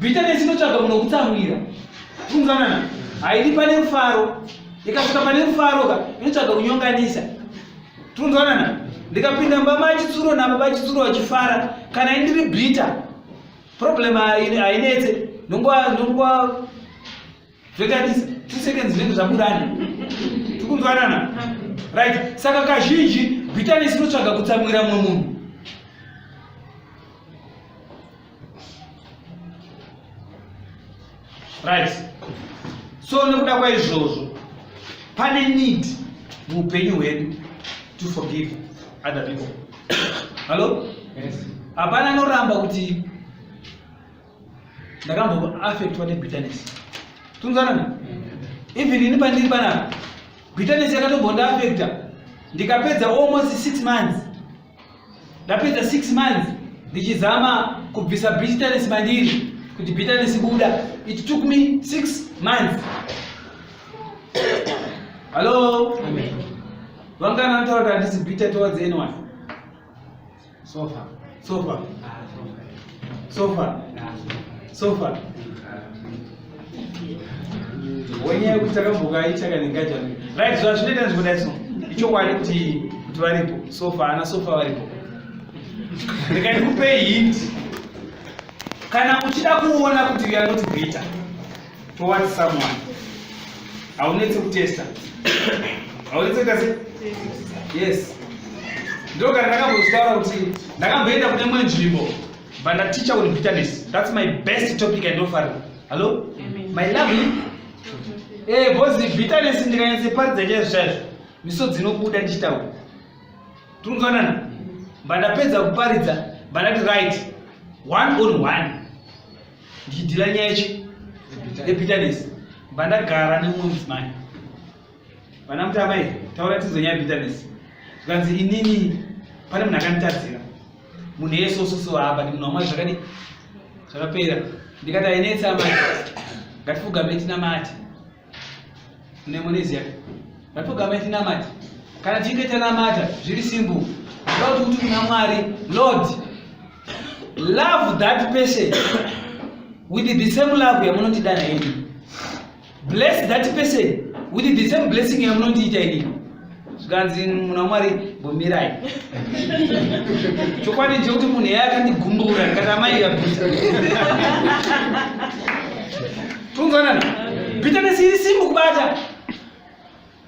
Bitterness inotsvaga munhu wekutsamwira. Funzanana. Haidi pane rufaro. Ikasvika pane rufaro ka inotsvaga kunyonganisa. Tunzwanana. Ndikapinda mbama achitsuro nabo vachitsuro vachifara kana indiri bitter. Problem hainetse. Ndongwa ndongwa zvoitadisa two seconds zvinenge zvaburana. Tukunzwanana. Right. Saka kazhinji bitterness inotsvaga kutsamwira mumwe munhu. right so nekuda kwaizvozvo pane need muupenyu hwedu to forgive other people hallo hapana yes. anoramba kuti ndakamboaffectwa nebitterness tunzanani mm. even ini pandiri panapa bitterness yakatombondi affecta ndikapedza almost six months ndapedza 6 months ndichizama kubvisa bitterness mandiri kuti bitterness buda it took me 6 months hallo vangana anotaura kuti handisi bitter towards anyone sofa sofa ah, So far. So far. Wenye kutaka mbuga ichaka ningaja. Right, so ashinde dance for that song. Icho kwani kuti kuti varipo. So far na so far varipo. Ndikaikupe hint. Kana uchida kuona kuti we are not greater. toward someone haunetse kutesta haunetse kuita se yes ndo kana ndakambozvitaura kuti ndakamboenda kune imwe nzvimbo but ndaticha with bitterness that's my best topic and offering hallo my lovely eh bozi bitterness ndikanyatseparidza chaizvo chaizvo misodzi inobuda ndichitaura tinonzwanana but ndapedza kuparidza but ndati right one on one ndichidhila nyaya yechi yebitterness pandagara nemumwe mudzimai vana mutama here taura tinzo nyaya yebitterness zvikanzi inini pane munhu akanditadzira munhu yesososo hapa ndi munhu wamwari zvakadi zvakapera ndikati ainetsa mati ngatifugameti namati nemonesia vatogama tinamati kana tichinge tanamata zviri simple zvoda kuti kuti kuna mwari lord love that person with the same love yamunondida naini bless that person with the same blessing yamunondiita inini zvikanzi muna mwari gombirai chokwadi chekuti munhu yeye akandigumbura ndikati amai yabusa tunzwanana bitterness iri simbu kubata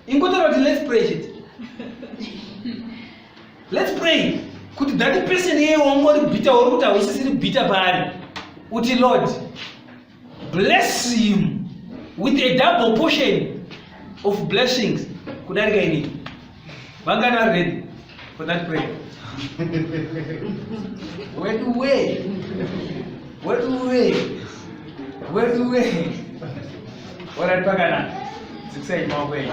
ingotaura kuti let's pray chete let's pray kuti that person yeye wangori bita uri kuti hausisiri bita paari uti lord bless him with a double portion of blessings kudarika inini vangani vari ready for that prayer weduwee weduwee weduwee orati pakanaka dziksai maoko enyu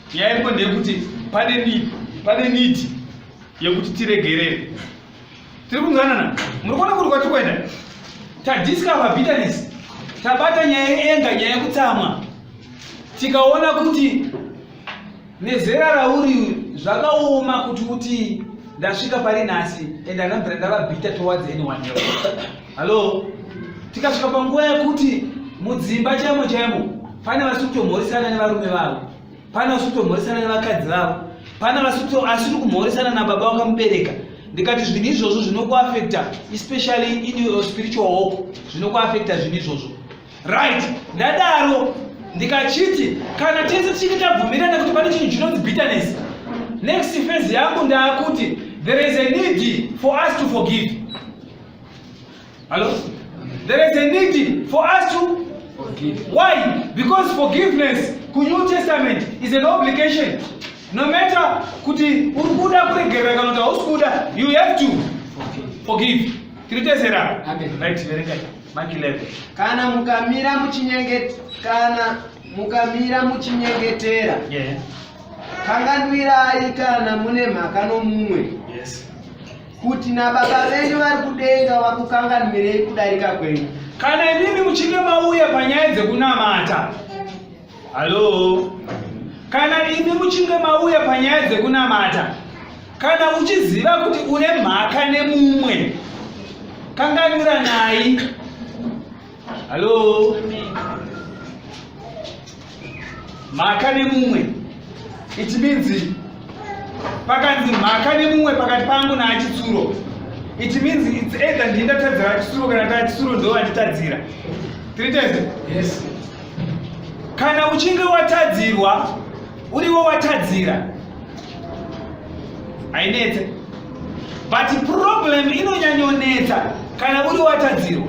nyaya iripo ndeyekuti pane need pane need yekuti tiregerere tiri kunzwanana muri kuona kuti kwati kuenda tadiscover bitterness tabata nyaya yeenga nyaya yekutsamwa tikaona kuti nezera rauri zvakaoma kuti uti ndasvika pari nhasi and anambira ndava bitter towards anyone else Halo, tikasvika panguva yekuti mudzimba chaimo chaimo pane vasi kutomhoresana nevarume vavo, pane vasi kutomhoresana nevakadzi vavo, pane vasi asiri kumhoresana nababa wakamubereka. Ndikati zvinhu izvozvo zvinokuafekta especially in your spiritual hope, zvinokuafekta zvinhu izvozvo. Right, ndadaro ndikachiti kana tese tichinge tabvumirana kuti pane chinhu chinonzi bitterness, next phase yangu ndaakuti there is a need for us to forgive. Hello? There is a need for us to forgive. Why? Because forgiveness ku New Testament is an obligation. No matter kuti uri kuda kuregerera kana kuti hausi kuda, you have to forgive. Tiri tezera. Amen. Right, verenga. Mark 11. Kana mukamira muchinyengeta kana mukamira muchinyengetera. Yeah. Kanganwirai kana mune mhaka nomumwe. Yes. kuti nababa venyu vari kudenga vakukanganwirei kudarika kwenyu kana imimi muchinge mauya panyaya dzekunamata halo kana imi muchinge mauya panyaya dzekunamata kana uchiziva kuti une mhaka nemumwe kanganwira nayi Hello. Mhaka nemumwe. It means pakanzi mhaka nemumwe pakati pangu naachitsuro. It means it's either ndini ndatadzira achitsuro kana taachitsuro ndo vanditadzira. Three times? Yes. Kana uchinge watadzirwa uriwo watadzira. Ainetse. But problem inonyanyonetsa kana uri watadzirwa.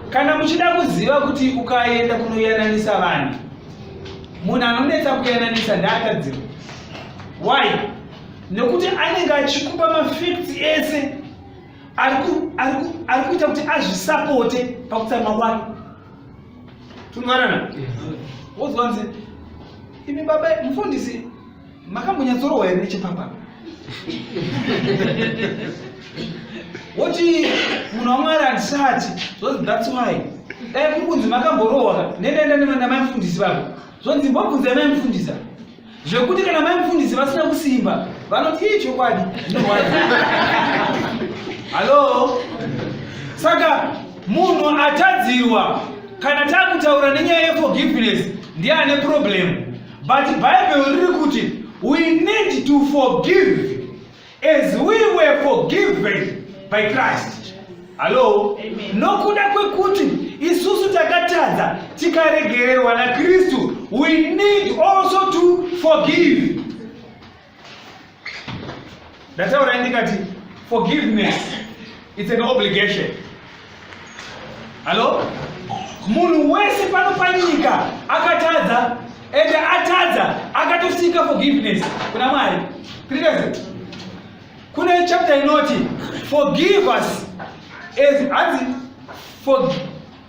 kana muchida kuziva kuti ukaenda kunoyananisa vanhu munhu anonetsa kuyananisa ndaatadzirwa why nekuti anenge achikupa mafacts ese ari kuita kuti azvisapote pakutsamwa kwake tunwanana wozwanzi imi baba mufundisi makambonyatsorohwa here nechipambano woti munhu wamwari handisati zvozi thats why dai kuri kunzi makamborohwa nendaenda namaimfundisi vavo zvonzi mbobvunzai maimfundisa zvekuti kana maimfundisi vasina kusimba vanoti ii chokwadi zvinorwadza hallo saka munhu atadzirwa kana takutaura nenyaya yeforgiveness ndiye ane problemu But Bible riri kuti we need to forgive as we were forgiven by Christ. Hello? Amen. Nokuda kwekuti isusu takatadza tikaregererwa naKristu, we need also to forgive. ndataura ndikati forgiveness it's an obligation hallo munhu wese pano panyika akatadza ende atadza akatosika forgiveness kuna mwari president kune chapter inoti forgive us as hanzi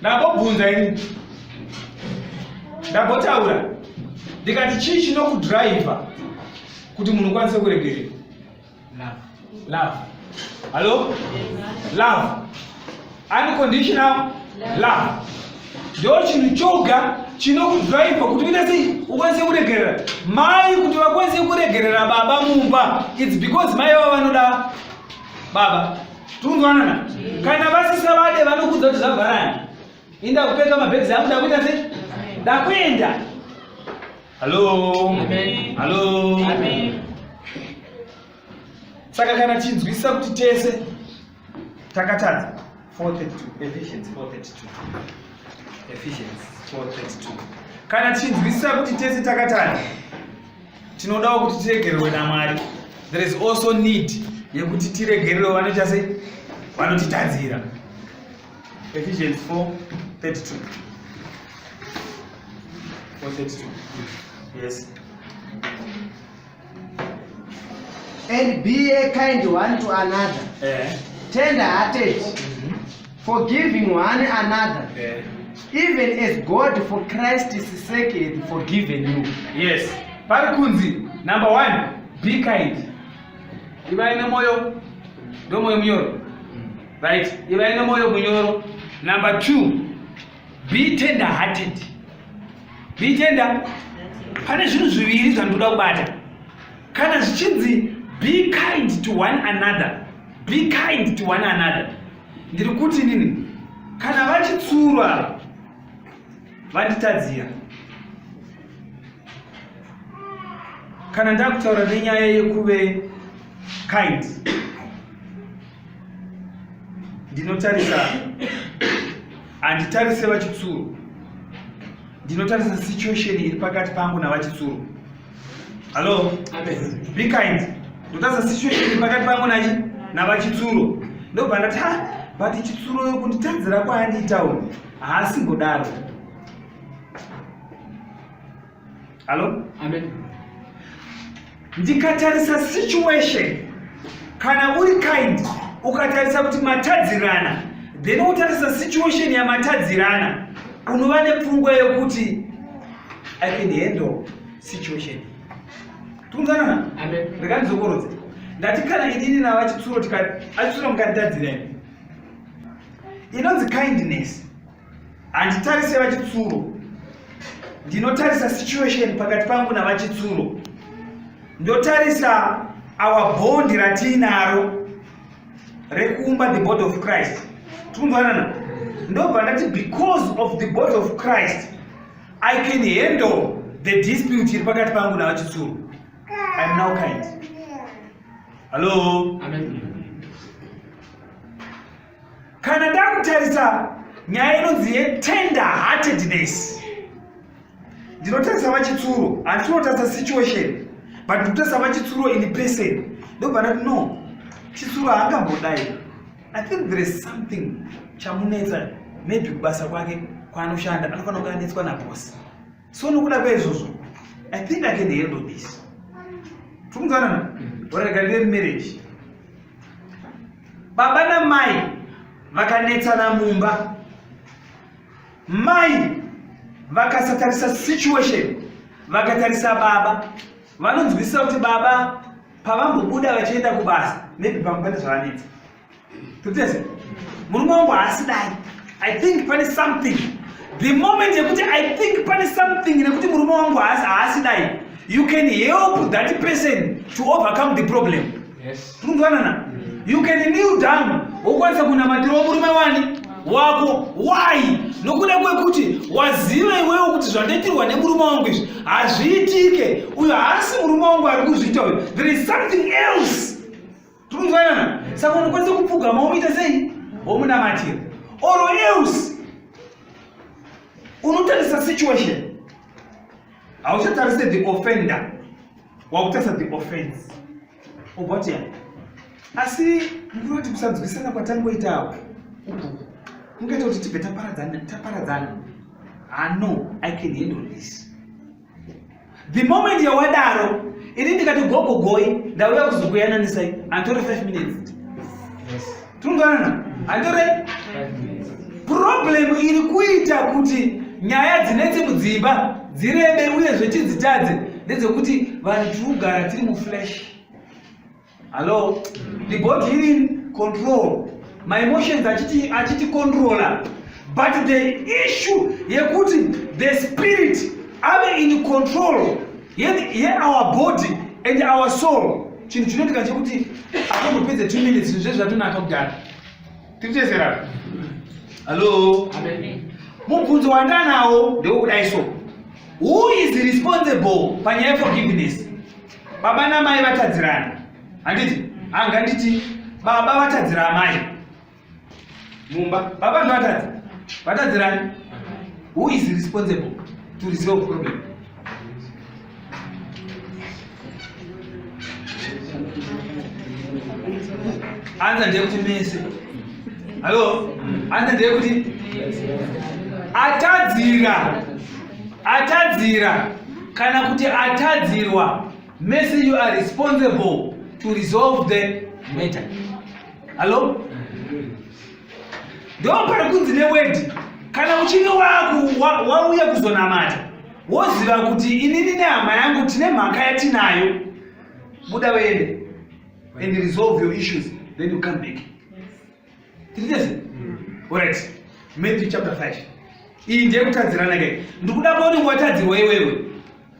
ndambobvunza ini ndambotaura ndikati chii chinokudriver kuti munhu ukwanise kuregerera love hallo love unconditional love ndo chinhu choga chinokudriver kuti uite sei ukwanise kuregerera mai kuti vakwanise kuregerera baba mumba its because mai vava vanoda baba tunzwanana kana vasisa vade vanokudza kuti zvavharani inda kupeka mabhegzi angu ndakuita sei ndakuenda hallo hallo saka kana tinzwisisa kuti tese takatadza 432 efficiency 432 efficiency 432 kana tichinzwisisa kuti tese takatadza tinodawo kuti tiregererwe namwari there is also need yekuti tiregererwe vanoita sei vanotitadzira ephesians 4 32 432 yes and be a kind one to another eh. tender hearted mm -hmm. Forgiving one another. Yeah. Even as God for Christ's sake hath forgiven you. Yes. Pari kunzi number one, be kind. Ivai nemoyo ndo moyo munyoro. Right? Ivai nemoyo munyoro. Number two, be tender hearted. Be tender. Pane zvinhu zviviri zvandoda kubata. Kana zvichinzi be kind to one another. Be kind to one another. ndiri kuti inini kana vachitsurwa vanditadzira kana ndakutaura nenyaya yekuve kind ndinotarisa handitarise vachitsuro ndinotarisa situation iri pakati pangu navachitsuro Hello. Amen. Be kind. Ndotasa situation pakati pangu nachi navachitsuro. Ndobva ndati ha but chitsuro yokunditadzira kwaandiita uyu haasi kudaro. Hello. Amen. Ndikatarisa situation kana uri kind ukatarisa kuti matadzirana then wotarisa situation yamatadzirana unova nepfungwa yokuti I can handle situation. Tunzana. Amen. Rekani zokoroze. Ndati kana inini na vachitsuro tikati achitsuro mukatadzira imi. Inonzi kindness. Handitarise vachitsuro. Ndinotarisa situation pakati pangu na vachitsuro. Ndotarisa our bond ratinaro rekuumba the body of christ tikunzwanana ndobva ndati because of the body of christ i can handle the dispute iri pakati pangu navachitsuru iam now kind hallo kana ndakutarisa nyaya inonzi yetender heartedness ndinotarisa vachitsuro handinotarisa situation but ndinotarisa vachitsuro in person ndobva ndati no chitsuro haangambodai i think there is something chamunetsa maybe kubasa kwake kwaanoshanda anofanira kunge anetswa nabosi so nokuda kweizvozvo i think i can handle this tikunzwanana varega ndive mumarriage baba namai vakanetsana mumba Mai vakasatarisa situation vakatarisa baba vanonzwisisa kuti baba pavambobuda vachienda kubasa maybe pamwe pane zvavanetsa totese murume wangu haasi dai i think pane something the moment yekuti i think pane something nekuti murume wangu haasi dai you can help that person to overcome the problem Yes. Tundwanana. You can kneel down. Ukwanisa kunamatira murume wani? wako why nokuda kwekuti waziva iwewo kuti zvandiitirwa nemurume wangu izvi hazviitike uyo haasi murume wangu ari kuzviita uyo there is something else tikunzwanana saka unokwanisa kupfugama womuita sei womunamatira or else unotarisa situation hauchatarise the offender wakutarisa the offense ugotiya asi ndinoti kusanzwisana kwatangoita apo kungaita kuti tibve taparadzana ano ah, i can handle this the moment yawadaro ini ndikati gogo goi ndauya kuzokuyananisai antori 5 minutes yes. tinoganana handirai problem iri kuita kuti nyaya dzinetse mudzimba dzirebe uye zvechidzitadze ndedzekuti vanhu tiri kugara tiri muflash hallo the body iri in control my emotions achiti achiti controller but the issue yekuti the spirit ave in control Yet, yet our body and our soul chinhu chinoitika chekuti atongopedze two minutes zvinhu zvezvatonaka kudhara tikuchezerana hallo mubvunzo wandanawo ndewokudai so who is responsible panyaya yeforgiveness baba namai vatadzirana handiti anga nditi baba vatadzira amai mumba baba ndivatadzi vatadzirani who is responsible to resolve problem anza ndeyekuti mese hallo anza ndeyekuti atadzira atadzira kana kuti atadzirwa mese you are responsible to resolve the matter hallo ndo pari kunzi newedi kana uchinge wauya kuzonamata woziva kuti inini nehama yangu tine mhaka yatinayo buda uende and resolve your issues then you come back tiritese orit matthew chapter 5 iyi ndiyekutadzirana ke ndikuda kuoni watadzirwa iwewe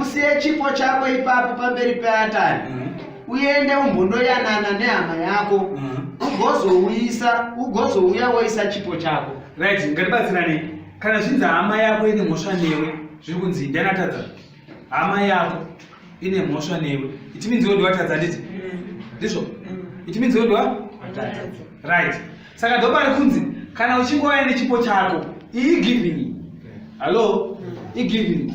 usiye chipo chako ipapo pamberi peatari mm. uende umbondoyanana nehama yako mm. ugozouyisa ugozouya woisa chipo chako right ngatibatsirane kana zvinzi hama yako ine mhosva newe zviri kunzi ndanatadza hama yako ine mhosva newe itiminzi wodiwatadza nditi mm. ndizvo itiminzi wodiwa right saka ndopari kunzi kana uchingouya nechipo chako iyi giving hallo igiving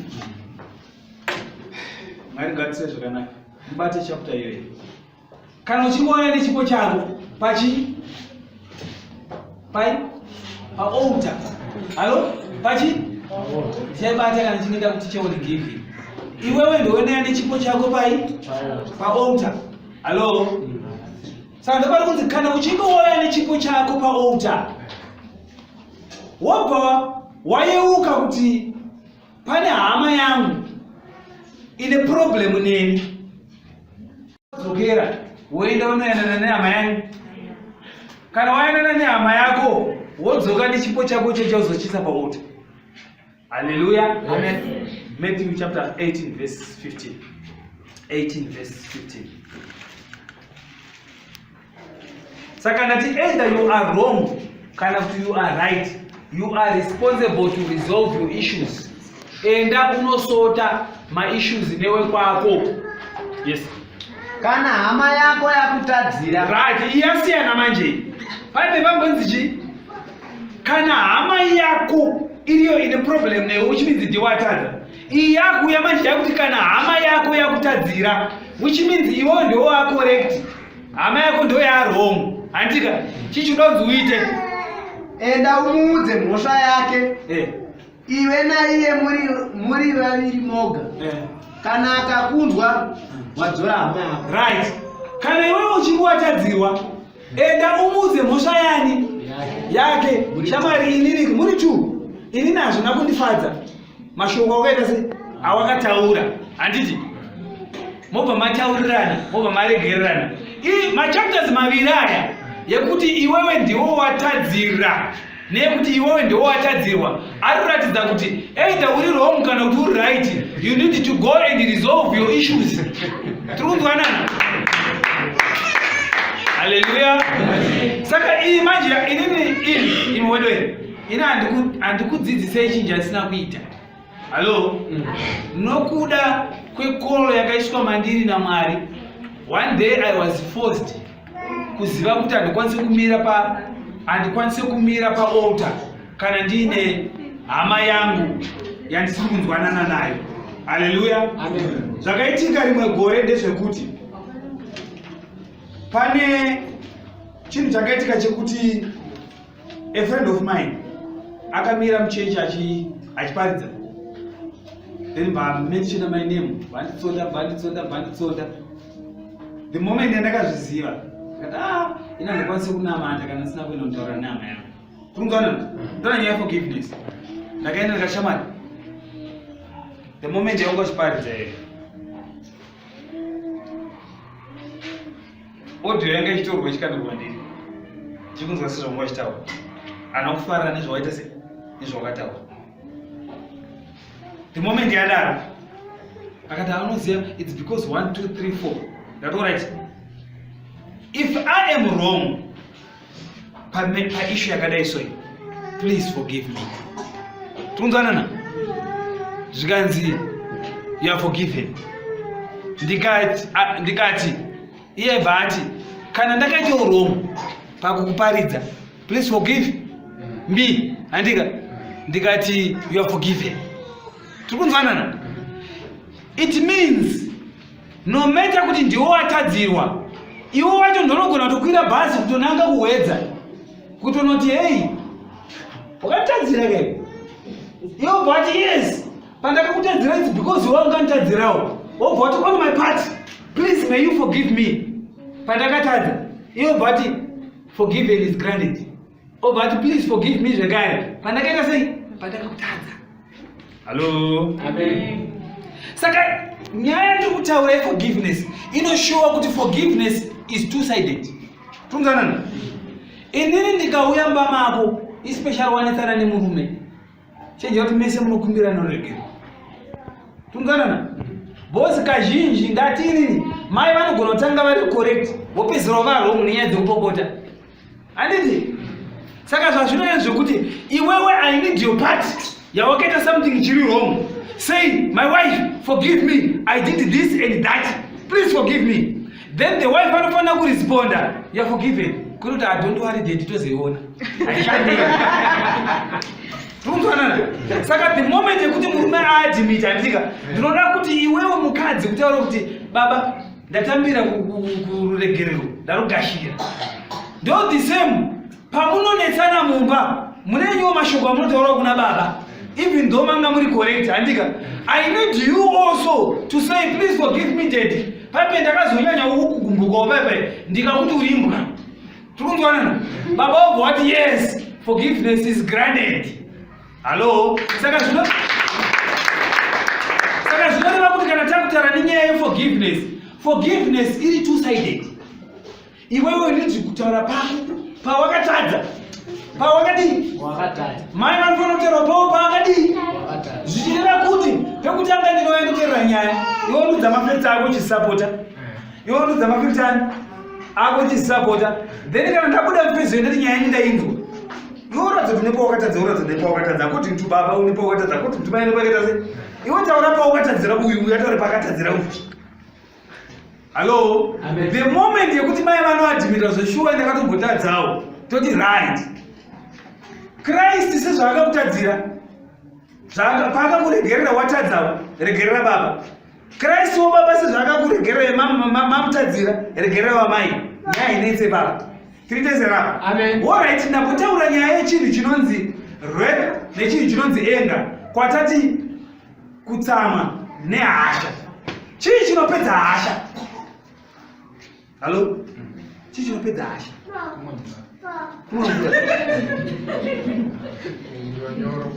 mwari ngatise zvakanaka mubate chapter iyoyi kana uchingouya nechipo chako pachi pai paouta hallo pachi chaibata kana chinoita kuti cheone giving iwewe ndouendeya nechipo chako pai paouta hallo saka ndopari kunzi kana uchinge wauya nechipo chako paalta wobva wayeuka kuti pane hama yangu ine problemu neni dzokera woenda unoyanana nehama yangu kana wayanana nehama yako wodzoka nechipo chako chechauzochinsa pamota Hallelujah. Amen. Matthew chapter 18 verse 15. 18 verse 15. Saka ndati either you are wrong kana kuti you are right. You are responsible to resolve your issues. Enda unosota ma issues newe kwako. Yes. Kana hama yako yakutadzira. Right, iyasiyana manje. Paipe pambonzi chii? kana hama yako iriyo ine problem newe which means ndiwe watadza iyi yakuuya manje yakuti kana hama yako yakutadzira which means iwewo ndiwo wacorrect hama yako ndo yarong hantika chichidonzi uite enda umuudze mhosva yake eh. iwe naiye muri vaviri moga eh. kana akakunzwa wadzora hama yako right kana iwewo uchinge watadzirwa enda umuudze mhosva yani yake shamwari inini muri two inini hazvina kundifadza mashoko awakaita se awakataura handiti mobva mataurirana mobva maregererana i machapters maviri aya yekuti iwewe ndiwo watadzira nekuti iwewe ndiwo watadzirwa anoratidza kuti either uri wrong kana kuti uri right you need to go and resolve your issues tiri kunzwanana haleluya saka iyi manje inini ini imwedoi ini handikudzidzisei chinji asina kuita Halo, mm. nokuda kwekolo yakaiswa mandiri naMwari, one day I was forced kuziva kuti handikwanise kumira pa handikwanise kumira paaltar kana ndiine hama yangu yandisiri kunzwanana nayo. Haleluya, zvakaitika rimwe gore ndezvekuti pane chinhu chakaitika chekuti a friend of mine akamira muchechi achiparidza then vamenshona my name vanditsonda vanditsonda vanditsonda the moment yandakazviziva kati a ah, ina ndikwanise kunamata kana sina kuenda kutaura nama yangu kurungana ndona nyaya forgiveness ndakaenda ndikashamari the moment yaunga chiparidza here audio yanga ichitorwa ichikandwa kwandiri ndichikunzwa sezvanga wachitaura ana kufarira nezvawaita se nezvawakataura the moment yadaro akati anoziva its because one two three four ndatorit if i am wrong paishu yakadai soyi please forgive me tikunzwanana zvikanzi you are forgiven ndikati ndikati iye bva ati kana ndakaita uromo pakukuparidza please forgive me handika ndikati you are forgiven tiri kunzwanana it means no matter kuti ndiwo watadzirwa iwo wacho ndonogona kutokwira bhazi kutonanga kuhwedza kutonoti heyi wakatadzira ke iwo bva wati yes pandakakutadzira its because iwe unganditadzirawo wobva wati on my part please may you forgive me pandakatadza iwo bva wati forgiven is granted obva ati please forgive me zvekare pandakaita sei pandakakutadza hallo amen saka nyaya yandiri kutaura yeforgiveness inoshowa kuti forgiveness is two sided tonzanana inini ndikauya mbamako especially wanetsana nemurume chenjera kuti mese munokumbira inoregerwa tunganana bosi kazhinji ngatiinini mai vanogona kutanga vari correct vopedzisira vava wrong nenyaya dzekupopota handiti saka zvazvinoe zvekuti iwewe i need your part yawakaita something chiri wrong say my wife forgive me i did this and that please forgive me then the wife anofanira kuresponda you're forgiven kuri kuti adont ah, worry dedi tozoiona tikunzwanana saka the moment yekuti murume aadimiti anditika ndinoda kuti iwewo mukadzi kutaura kuti baba ndatambira kuregerero ndarogashira ndo the same pamunonetsana mumba mune nyuwo mashoko amunotaura kuna baba even though manga muri correct handika i need you also to say please forgive me daddy paipe ndakazonyanya ukugumbukawo paipe ndikakuti uri imbwa tiri kunzwanana baba wobva wati yes forgiveness is granted hallo saka zvino saka zvinoreva kuti kana takutaura nenyaya yeforgiveness forgiveness iri two sided iwewe ndinzwi kutaura pako pawakatadza pawakadii mai vanofanira kutaura pavo pawakadii zvichireva kuti pekutanga ndinoyanditerera nyaya iwe ndudza mafirita ako chisapota iwe ndudza mafirita ani ako chisapota then kana ndabuda mfezoyo ndati nyaya indainzwa iwe uratidza kuti nepawakatadza uratidza kuti nepawakatadza akuti mtu baba unepawakatadza akuti mtu mai nepawakatadza iwe taura pawakatadzira uyu uyu ataure pakatadzira uyu Hello? Amen. The moment yekuti mai vanoadmita zveshuwa ndakatombotadzawo toti right. Christ sezvaakakutadzira paakakuregerera watadzawo regerera baba. Christ wo baba sezvaakakuregerera mamutadzira regerera vamai. Nyaya inetse baba. Tiritezera. Amen. All right, ndapotaura nyaya yechinhu chinonzi rep nechinhu chinonzi anger kwatati kutsamwa nehasha chii chinopedza hasha hallo chii chinopedza hasha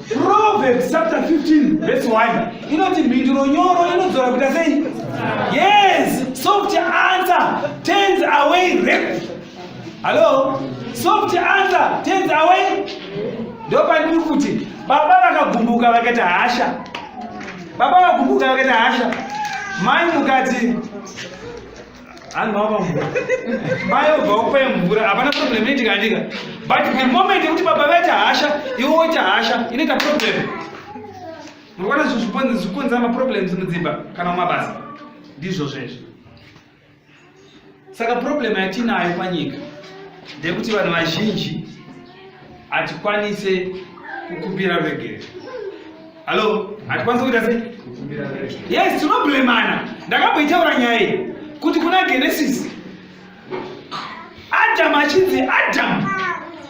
proverbs chapter 15 verse 1 inoti mhinduro nyoro inodzora kuita sei yes soft answer turns away rape Hello? Soft answer turns away. Ndio pandiri kuti baba vakagumbuka vakaita hasha. Baba vakagumbuka vakaita hasha. Mai mukati anova mvura. Mai obva okupa mvura. Hapana problem ine tikandika. But the moment yekuti baba vaita hasha, iwe woita hasha, inoita problem. Munoona zvikonzera maproblems mudzimba kana mumabasa. Ndizvo zvezvo. saka problem yatinayo panyika ndekuti vanhu vazhinji hatikwanise kukumbira ruregerero hallo hatikwanise kuita sei yes tinoblemana ndakamboitaura nyaya iyi kuti kuna genesis adamu achinzi adamu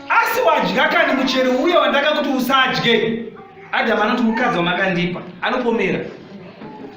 asi wadya kani muchero uye wandakakuti usadye adamu anoti mukadzi wamakandipa anopomera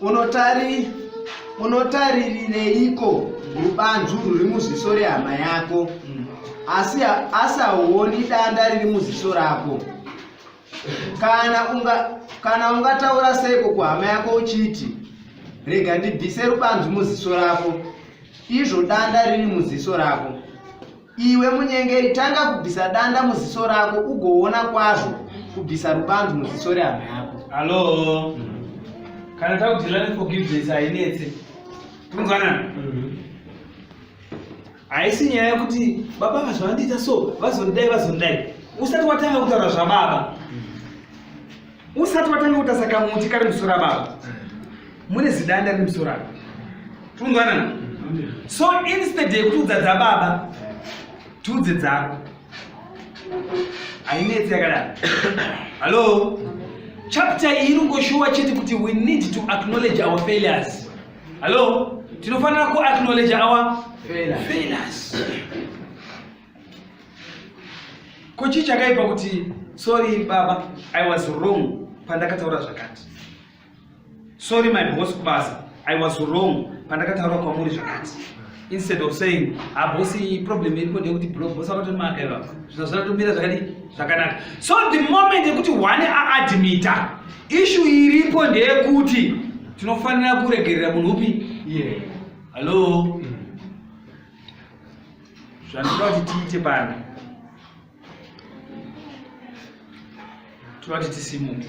unotari unotaririreiko rubanzu ruri muziso rehama yako asi asi hauoni danda riri muziso rako kana unga kana ungataura seiko kuhama yako uchiti rega ndibvise rubanzu muziso rako izvo danda riri muziso rako Iwe munyengeri, tanga kubvisa danda muziso rako ugoona kwazvo kubvisa rubanzu muziso rehama yako. Hallo, kana takudhilani forgiveness hainetse kunzwanana mhm. haisi nyaya yekuti baba vazvandiita so vazondidai vazondidai usati watanga kutaura zvababa usati watanga kutasa kamuti kari musoro ababa mune zidanda riri musoro aba tikunzwanana so instead yekutiudza dzababa tiudze dzako hainetsi yakadaro hallo chapter iyi iri ngoshuwa chete kuti we need to acknowledge our failures hallo tinofanira kuacknowledge our failures, failures. Ko chii chakaipa kuti sorry baba I was wrong pandakataura zvakati. Sorry my boss kubasa I was wrong pandakataura kwamuri zvakati. Instead of saying ah boss problem iripo ndekuti bro boss akatoti makaiva zvino zvinotomira zvakadi zvakanaka. So the moment yekuti one a admita issue iripo ndeyekuti tinofanira kuregerera munhu upi? Yeah. Hello. Mm. zvandinoda kuti tiite pano tinoda kuti tisimuke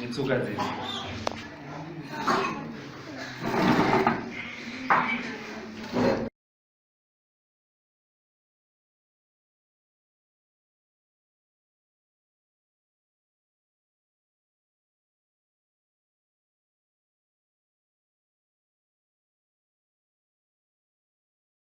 netsoka dzedu